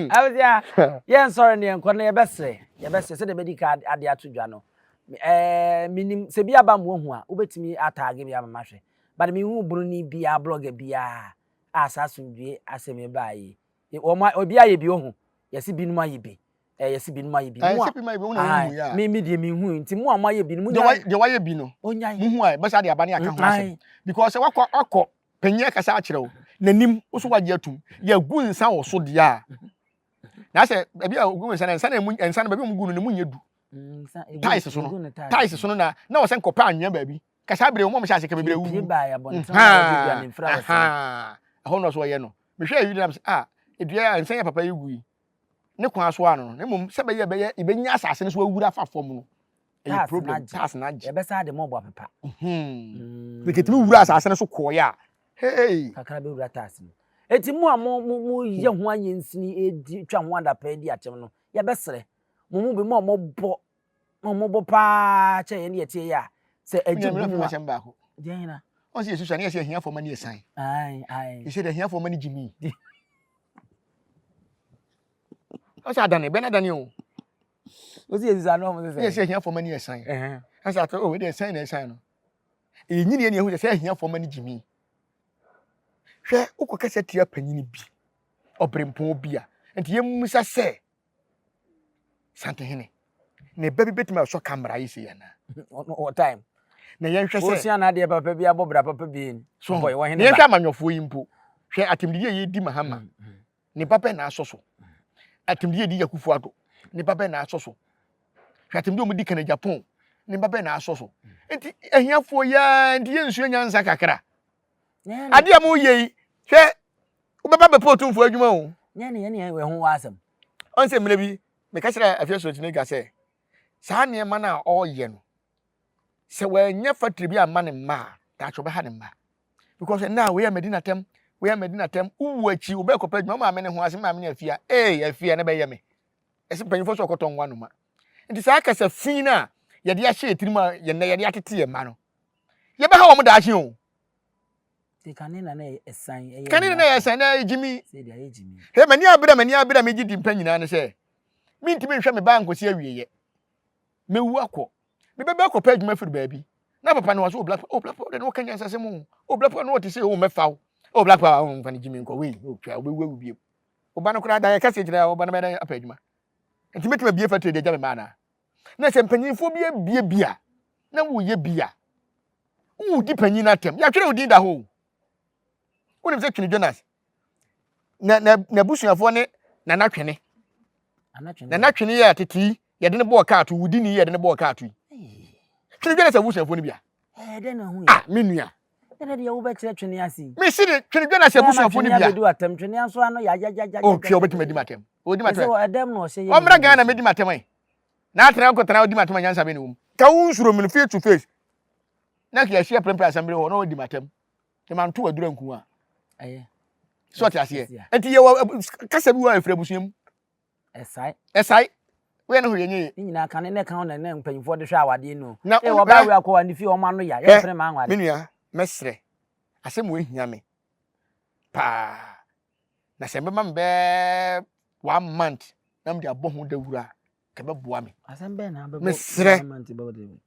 abusua yɛ nsɔre ne yɛnkɔ no yɛbɛsrɛ yɛbɛsrɛ sɛdeɛ bɛdi ka ade ato dwa no ɛɛ menim sɛ bi aba mmoa hu a wobɛtumi ataage bi ama mahwɛ but mehu buroni biara blogger biara a saa asomdwie asɛm yi baa yi wɔn obi ayɛ bi ohu yɛsi binom ayɛ bi Eh, yɛsi binom ayɛ bi. Ɛsɛ bi ma ebi mu na wɔn mu yɛ a. Mi mi deɛ mi hu nti mu a mo ayɛ bi no mo nya. Deɛ wɔayɛ bi no. Onyan. Mo hu a ɛbɛsa de aba ne aka ho asɛm. Because sɛ wakɔ akɔ panyin akasa akyerɛ wo n'anim woso wagye atum yɛgu nsa wɔ so deɛ a na sɛ ebi a ogu nsa na nsa na emu nsa na baabi a wɔn gu no na emu nyɛ du tais so no tais so no na na wɔsɛ nkɔpɛ anwea baabi kasa abere wɔn a wɔhyɛ ase kɛmɛ bere wu ɛhɔ na so wɔyɛ no mehwɛ eyi na ah edua a nsa yɛ papa yi gu yi ne kwan so ano no na mmom sɛ bɛyɛ bɛyɛ yɛbɛnya asase no so awura afa fam no ɛyɛ problem tax na agye yɛbɛsa de mɔbɔ apepa mm. mekɛtumi mm. wura asase no so kɔɔeɛ a hey. kakra bɛwura tax no ɛti mu a moyɛ ho ayɛ nsini ɛdi twa ho adapɛ di akyɛm no yɛbɛserɛ mo mu bi mu a mɔbɔ na wɔn bɔ paa kyɛ yɛn deɛ tie yɛ a sɛ ɛgye bu mu a sɛm baako deɛ hena ɔsɛ yɛ susua ne yɛ sɛ ahiafoɔ ma ne yɛ san yɛ sɛ ahiafoɔ ma ne gye mi ɔsɛ adane bɛn adane o ɔsɛ yɛ susua ne ɔmo sɛ sɛ ahiafoɔ ma ne yɛ san ɛsɛ atɔ o ɛdeɛ san na ɛsan no ɛyɛ nyini yɛ ne ɛhu sɛ sɛ ahiafoɔ ma ne gye mi hwɛ wokɔ kɛsɛ tia panyini bi ɔbrempɔn bi a nti yɛmmisa sɛ Santehene, ne ba bi bɛtumi asɔ ka mmara yi sei anaa? Wɔ time. Na yɛnhwɛ sɛ. Wɔsua n'adeɛ papa bi abɔ bra papa bi ni. So bɔ wɔ hene ba. Yɛnhwɛ amanyɔfoɔ yi mpo. Hwɛ atemdidi a yɛdi Mahama. Mm, mm. Ne ba bɛn na asɔ so? Atemdidi a yɛdi Yakufo Ado. Ne ba bɛn na asɔ so? Hwɛ atemdidi a wɔdi Kane Japan. Ne ba bɛn na asɔ so? Nti ahiafoɔ yɛa nti yɛnsua nyansa kakra. adeɛ a moyɛ yi hwɛ wobɛba bɛpɛ otumfoɔ adwuma o ɔn sɛ mmerɛ bi meka kyerɛ afei asorɔkyene dwa sɛ saa nneɛma no a ɔreyɛ no sɛ wɔanyɛ fatiri bi amma ne mma a daakye ɔbɛha ne mma because ɛnna a wei a madi n'atɛm wei a madi n'atɛm wowu akyi wobɛkɔpɛ adwuma maame ne ho ase maame ne afia ee afia ne bɛyɛ me ɛsɛ mpanyinfoɔ sɛ ɔkɔtɔ nwa noma nti saa kasa fi no a yɛde ahyɛ yɛ tirim a yɛn na yɛde atete yɛn mma no Yɛbɛha wɔn daakye o. Kane na na ɛyɛ ɛsan. Kane na na ɛyɛ ɛsan na ɛyɛ gyimi. Sɛdeɛ ɛyɛ gyimi. Hɛ m'ani abere m'ani abere a megye di mpɛ nyinaa ne sɛ mentumi nhwɛ me ba nkɔsi awieeɛ. Mɛwu akɔ. Me ba bi akɔpɛ adwuma firi baabi. Na papa no wɔ so o black o black power de na wɔka nyansasɛm o o black power no wɔte sɛ o mɛfa o o black power o mfa no gyimi nkɔ wei o twa wobɛwu awu bio. Ɔba no koraa da yɛ kɛseɛ gyina ɔba no bɛyɛ dɛ apɛ adwuma. Nti mɛtumi abie factory de agya me mma anaa? na sɛ mpanyinfoɔ bi abie bi a na woyɛ bi a wodi panyin no atɛm yɛatwerɛ wo din da hɔ wonim sɛ twene jonas n'abusuafoɔ ne nana twene nana twene yɛ tete yi yɛde ne bɔɔ kaa to wodi ni yɛde ne bɔɔ kaa to yi twene jonas abusuafoɔ no bi a ah me nua Ɛnna deɛ wobɛkyerɛ twene ase yi. Mesi de twene dwa na sɛ abusuafo no bia. Ɛnna atwene atɛm twene nso ano yɛ agyagyagyagya. O twɛ obetumi adi m'atɛm. Odi m'atɛm. Ɛsɛ wɔ ɛdɛm na ɔhyɛ yɛ. Ɔmmra Ghana na medi m'atɛm ɛ. Na atena nko tena odi m'atɛm anyansa bɛ na wɔm. Ka wo nsuro me no face to face. Na kia hyia prɛmprɛ asɛmbere hɔ na ɔdi m'atɛm. Te ma nto adura nku a. Ɛyɛ. So ɔte aseɛ. Ɛti yɛ wɔ kasa bi wɔ efiri abusua mu. Ɛsae. Ɛsae. Woyɛ ne ho yɛ nyeye. Ne nyinaa ka ne ne ka ho na ne mpanyinfoɔ de hwɛ awadeɛ no. Na wɔn wɔba awia kɔ wɔn fie wɔn ano ya yɛ mpene maa nware. Me nua mɛsrɛ asɛm wɔ ehia me paa na sɛ mbɛma me bɛɛ one month na mo de abɔ ho dawura kɛ bɛboa me. Asɛm bɛn na bɛbɔ mesrɛ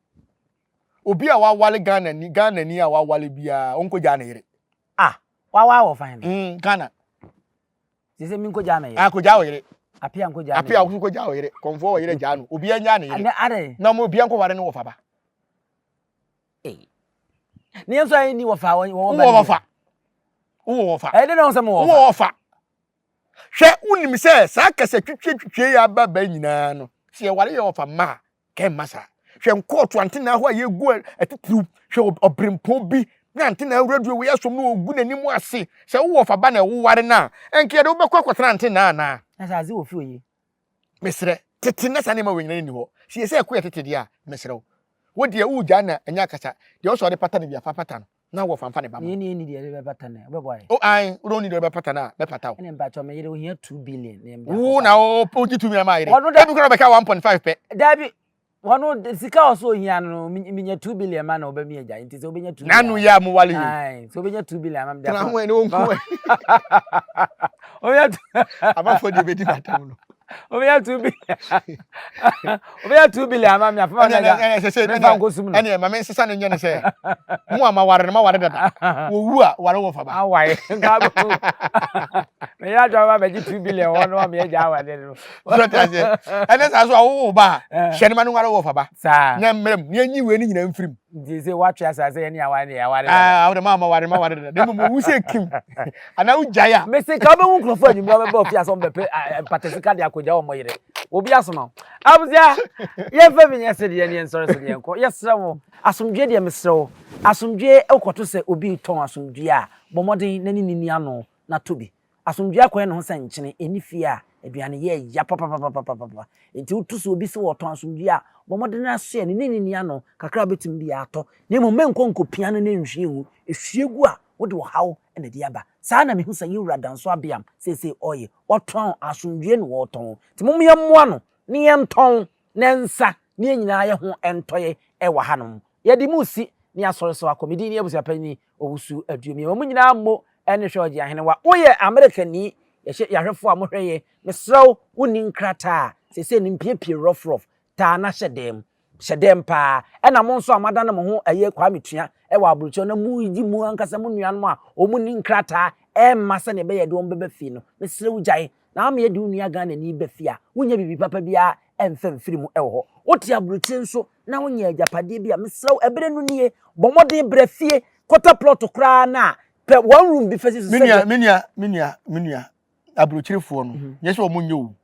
obi a wawale Ghana ni Ghana ni a wawale biara ɔnkɔ gya ne yere. Ah wawa wɔ fan. Mm, Ghana. Te sɛ menkɔ gyaa me yere. Akɔ gyaa wo yere. Apia nkɔ gyaa me yere. Apia nkɔ gyaa wo yere. Kɔnfoɔ wɔ yere gyaa no. Obi anya ne yere. Ne are. Na mo obi nkɔ ware ne wɔfa ba. Ee. Ne yɛn nso ayɛ ni wɔfa wɔwɔ ba. Wɔ wɔfa. Wɔ wɔfa. Ɛyɛ de na wɔn sɛ mo wɔfa. Wɔ wɔfa. Hwɛ wonim sɛ saa kasa twitwie twitwie yɛ aba ba nyinaa no sɛ yɛware yɛ wɔfa mma a Kɛn mma saa. Hwɛ nkɔɔto antenaa hɔ a yɛgu atitiriw. Hwɛ ɔberempɔn bi na antenaa wura duro wei asom na ɔgu n'anim ase. Sɛ wowɔ ɔfaba na woware no a, ɛnka yɛde wo bɛkɔ akɔtena antenaa anaa? Na sɛ adze wɔ fie oye? Meserɛ, tete na saa nneɛma wei nyinaa nni hɔ. Sɛ yɛsɛ ɛko yɛ tete deɛ a, meserɛ wo. Wo deɛ woregyaa no a, ɛnyɛ akasa. Deɛ ɔsɛ ɔde pata no bia, fa pata no. Na ɔwɔ fanfa ne ba mu. Nea ɛni deɛ ɛde bɛpata no, wobɛboa yɛ? O ae, wode ɔni deɛ ɔde bɛpata no a, mɛpata wo. Ɛne mpakyɛ, me yere, ohia two billion na yɛn biako. Wo na wogye two million ma yere. Wɔno da. Ebi kora ɔbɛka one point five pɛ. Dabi, wɔno sika a ɔsɛ ohia no, menya two billion ma na ɔbɛ mi agya, nti sɛ wobɛnya two billion. N'ano yɛ a mo wale yi. Ae, sɛ wobɛnya two billion ama me deɛ. Tena ho ɛne wo nko ɛ. Wobɛnya two. Abafo deɛ bɛdi bata mu no. wobɛnya two bi wobɛnya two billion ama me afoma na mefa nkosum no ɛneɛ ma me nsesa no nyɛ no sɛ mo a maware no maware dada wɔwu a ware wɔ faba awae meyɛ adwa ma bɛgye two billion hɔ no ma meyɛ gya awade no ɛne saa so awowo ba a hyɛ no ma no ware wɔ faba na mmerɛm ne anyi wei no nyina mfirim Nti sɛ woatwe asa sɛ yɛne aware deɛ aware dada. Ah, wode maa ma ware ma ware dada. Na mmom wowu sɛ kim. Anaa wogyae a. Mese ka wobɛhu nkurɔfoɔ anwummerɛ wɔbɛba ofie asɛ wɔbɛpɛ mpatasika de akɔgya wɔn yere. Obi asoma wo. Abusua, yɛmfa bi nyɛ sedeɛ ne yɛnsɔre so ne yɛnkɔ. Yɛsrɛ wo, asomdwoeɛ deɛ mesrɛ wo. Asomdwoeɛ wokɔto sɛ obi retɔn asomdwoeɛ a, bɔ mmɔden na ne ne nni ano na tɔ bi. Asomdwoe akwan ne ho sɛ nkyene nni fie a aduane yɛ ya papapapapapapa. Enti woto so obi sɛ ɔtɔn asomdwoe a, bɔ mmɔden ara soɛ no ne no nni ano kakra a obetumi de atɔ, na mmom menkɔ nkopia no na enhwie ngu. Ehwie gu a, wode ɔhaw na ɛde aba. Saa ara na mihu sɛ yɛn wura Danso Abeam seesei ɔreyɛ. Watɔn asomdwoe na ɔretɔn. Enti momma yɛmmoa no na yɛntɔn Ne nsa ne yɛn nyinaa yɛ ho ntɔeɛ wɔ hanom. Yɛde mo resi ne Asɔre so akɔ. Me din ne Abusuapanyin Owusu Aduomie. Wɔn nyinaa mo ne hwɛ Ɔgye Ahenewa. Woyɛ Amerikani, yɛhyɛ yɛahwɛfoɔ a mohwɛ yɛn. Mesrɛ wo, wonni nkrataa a, seesei no mpiapia rɔfrɔf. Taa na hyɛ dɛm. Hyɛ dɛm pa ara. Ɛna mo nso a moadane mo ho ɛyɛ Kwame Tua wɔ aburokyire na moredi mo ankasa mo nuanom a wɔnni nkrataa mma sɛdeɛ ɛbɛyɛ a yɛde wɔn bɛba fie no, mesrɛ wo gyae. Na ama yɛde wo nua Ghanani ba fie a wonnya biribi papa biara ɛmfa mfiri mu wɔ hɔ. Wote aburokyire nso na wonyɛ agyapadeɛ bi a, mesrɛ wo, ɛberɛ no nie. Bɔ mmɔden bra fie kɔtɔ plot koraa no a, pɛ one room bi fa si so sɛdeɛ. Me nua, me nua, me nua, me nua, aburokyirefoɔ no, nyɛ sɛ wɔn nyɛ o.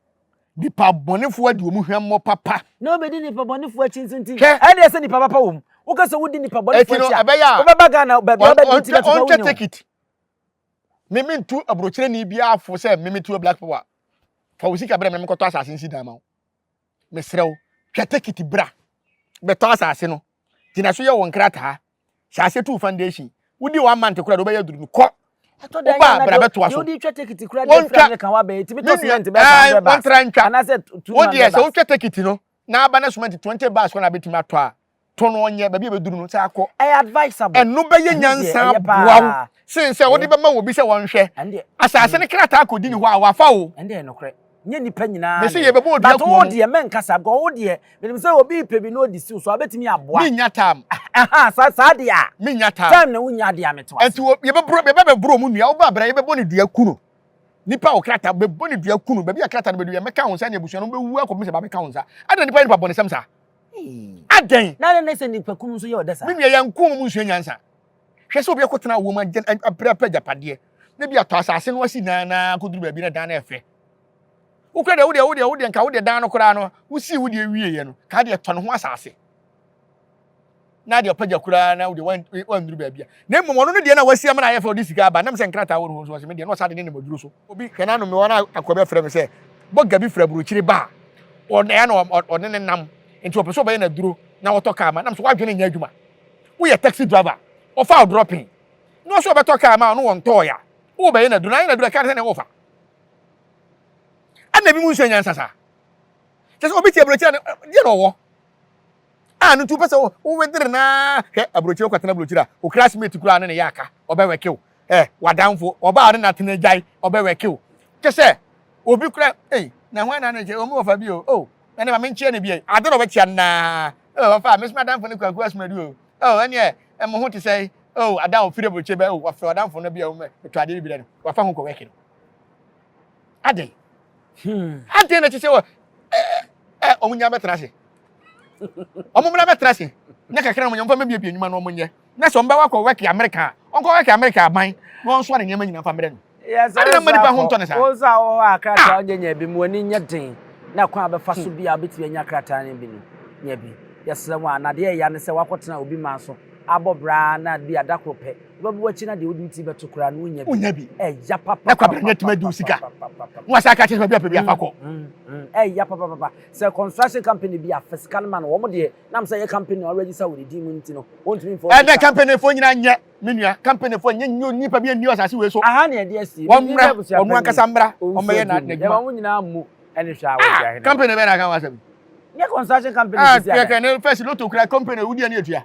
Nipa bɔnefoɔ adi wɔn hwammɔ papa. Na wobɛdi nipa bɔnefoɔ akyi nso nti, ɛnna ɛsɛ nipa papa wɔ mu. Woka sɛ wodi nipa bɔnefoɔ akyi a, wobɛba Ghana baabi a wobɛdi nti na tete wɔ wo nyɛ o. Me me ntu aburokyerɛni biara fo sɛ me me tu black power. Fa wo sika brɛ me mekɔtɔ asase nsi dan ma wo. Mesrɛ wo, twa tekiti bra. Bɛtɔ asase no. Gyina so yɛ wo nkrataa. Hyɛ ase tu foundation. Wodi one month kora de wobɛyɛ aduru no. Kɔ. Ɛtɔ da yɛ na bra bɛtoa so. Wodi twa tekiti kora de fira ne kan wabɛn. Etimi tɔ cement bɛ fa bɛ ba. Anase tu ma bɛ ba. Wodi sɛ wotwa tekiti no. na aba na sumɛnti twenty bags kɔ na abɛtumi atɔ a, tɔ no ɔnyɛ baabi a ɛbɛduru no sɛ akɔ. Ɛyɛ advisable. Ɛno bɛyɛ Ɛno deɛ nyansa ɛyɛ aboa wo paa. sen sɛ wode Ɛyɛ. bɛma obi sɛ ɔnhwɛ. Ɛno deɛ. Asase no krataa akɔdi ne hɔ a, wafa o. Ɛno deɛ ɛyɛ nokorɛ. Nyɛ nnipa nyinaa Mese na ɛyɛ. yɛbɛbɔ odua But kuo wo no. deɛ mɛnka saa because wo deɛ menim sɛ obi repɛ bi na ɔdi siw so a, wobɛtumi aboa. Mennya time. Aha, saa saa deɛ a, Mennya time. time na wonnya deɛ a, mete wo ase. Ɛnti wɔ, yɛbɛboro, yɛbɛbɛboro ɔmo nnua, wo ba bra, yɛbɛbɔ ne dua, ku no. Nipa a ɔwɔ krataa bɛbɔ ne dua kunu. Baabi a krataa no bɛdu yɛ mɛka wo nsa ne abusua no bɛwu akɔpem sɛ bɛabɛka wo nsa. Adɛn na nipa yɛ nipa bɔnesɛm saa? Adɛn? Na adɛn na sɛ nipa kunu nso yɛ ɔdɛ saa? Me nua, yɛn kɔn mu nsua nyansa. Hwɛ sɛ obi akɔtena awoɔ mu agye abrɛ apɛ agyapadeɛ na bi atɔ asase no asi dan na akɔduru baabi na dan no ɛfɛ. Wo kora deɛ, wo deɛ, wo deɛ, wo deɛ, nka wo deɛ dan no koraa no, wosii wo deɛ wieeɛ no, ka deɛ tɔ ne ho asase. na deɛ ɔpagya koraa na wodeɛ wanduru baabi a na mmom ɔno no deɛ na wasi amena ayɛ fɛ ɔde sika aba nam sɛ nkrataa wɔ no hɔ so ɔsɛ me deɛ na ɔsa de ne nam aduro so obi hwɛ n'ano me wɔn a akɔ bɛfrɛ me sɛ bɔga bi fira burokyire ba a ɔnɛa na ɔne ne nam nti ɔpɛ sɛ ɔbɛyɛ n'aduro na wɔtɔ kaa ma nam sɛ wadwene nyɛ adwuma woyɛ taxi driver ɔfa ɔdrɔpen na ɔsɛ ɔbɛtɔ kaa ma ɔno wɔntɔɔ ya wobɛyɛ n'aduro na ayɛ n'aduro ɛka ne sɛ ne wofa ɛna bi mu nso anyansa saa kyɛ sɛ obi tie aburokyire deɛ na ɔwɔ Ah no nti wopɛ sɛ wo wedere no ara hwɛ aburokyire wokɔtena aburokyire a wo classmate koraa ne ne yɛ aka ɔbɛwɛke wo eh w'adamfo ɔbaa ne n'atena gyae ɔbɛwɛke wo kyɛ sɛ obi koraa ei na hwan na ne kyɛ omi wɔfa bi o oh ɛne ma menkyeɛ ne bi ei ade na ɔbɛkyea no naa oh wɔfa mesoma adamfo ne kwaku asomadu o oh ɛneɛ ɛmo ho te sɛ oh adan ofiri aburokyire bɛ oh wɔfrɛ ɔdamfo no bi a wɔmɛ to adeɛ bi bi dɛ no wɔfa ho kɔwɛke no Adɛn? Hmm. Adɛn na ɛte sɛ wɔ ɛ ɛ wɔn nyinaa bɛtena ase. Wɔn mmra bɛtena ase. Nyɛ kakra wɔn nyɛ wɔn bɛbiebie nnwuma na wɔn nyɛ. Na sɛ wɔn bɛwɔ akɔ wɛki Amerika a, wɔn kɔ wɛki Amerika aban na wɔn nso ne nneɛma nyinaa fa mmerɛ no. Ade na mma nipa ho ntɔ ne saa. Wɔn nso a wɔwɔ hɔ a krataa wɔn ah! nyɛ bi mu wɔn ani nyɛ den na kwan a bɛfa so hmm. bi a wɔbɛtumi anya krataa no bi no nyɛ bi. Yɛsrɛ wɔn a nadeɛ ɛya ne sɛ wɔakɔtena obi man so abɔ braa na bi adakoro pɛ Wobɛbɔ w'akyi na deɛ wode wo ti bɛto koraa no wonya bi. Wonya bi. Ɛya papa. Na kwabena nya tuma di wo sika. Na wasa aka kyerɛ sɛ bi apɛ bi afa kɔ. Ɛya papa papa. Sɛ construction company bi afa sika no ma no wɔn deɛ nam sɛ yɛ company a register wɔ ne din mu nti no wɔntumi mfa. Ɛna company fo nyinaa nyɛ me nua company fo nyɛ nyɛ nipa bi nni asase wei so. Aha na ɛde asie. Wɔn mmra wɔn ankasa mmra wɔn bɛyɛ na adwuma. Ɛma wɔn nyinaa mu ɛne hwɛ a wɔn ti ahene. Company bɛn na aka wɔn asɛm. Nyɛ construction company bi si ada. Ah kɛkɛ ne fɛsi loto kura company wudi ɛne etua.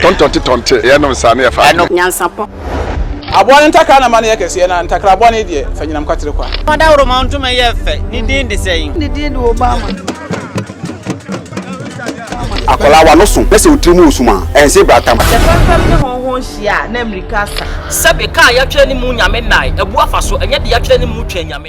Tɔntɔnte tɔnte, yɛ nom saa na yɛ fa adwene. Nyansapɔ. Aboa no ntakra na ma no yɛ kɛseɛ na ntakra boa no deɛ fa nyinam kwatere kwa. Ɔdawuroma ntoma yɛ fɛ, ne din de sɛn? Ne din de Obama. Akwadaa w'ano so na sɛ wo tiri mu wɔ sum a, ɛnse bra tam. Sɛ fɛmfɛm ne hɔnhɔn hyia a, na mmirika asa. Sɛbe, ka a yɛatwerɛ ne mu Nyame nnae, abu afa so, ɛnyɛ deɛ yɛatwerɛ ne mu twɛn Nyame.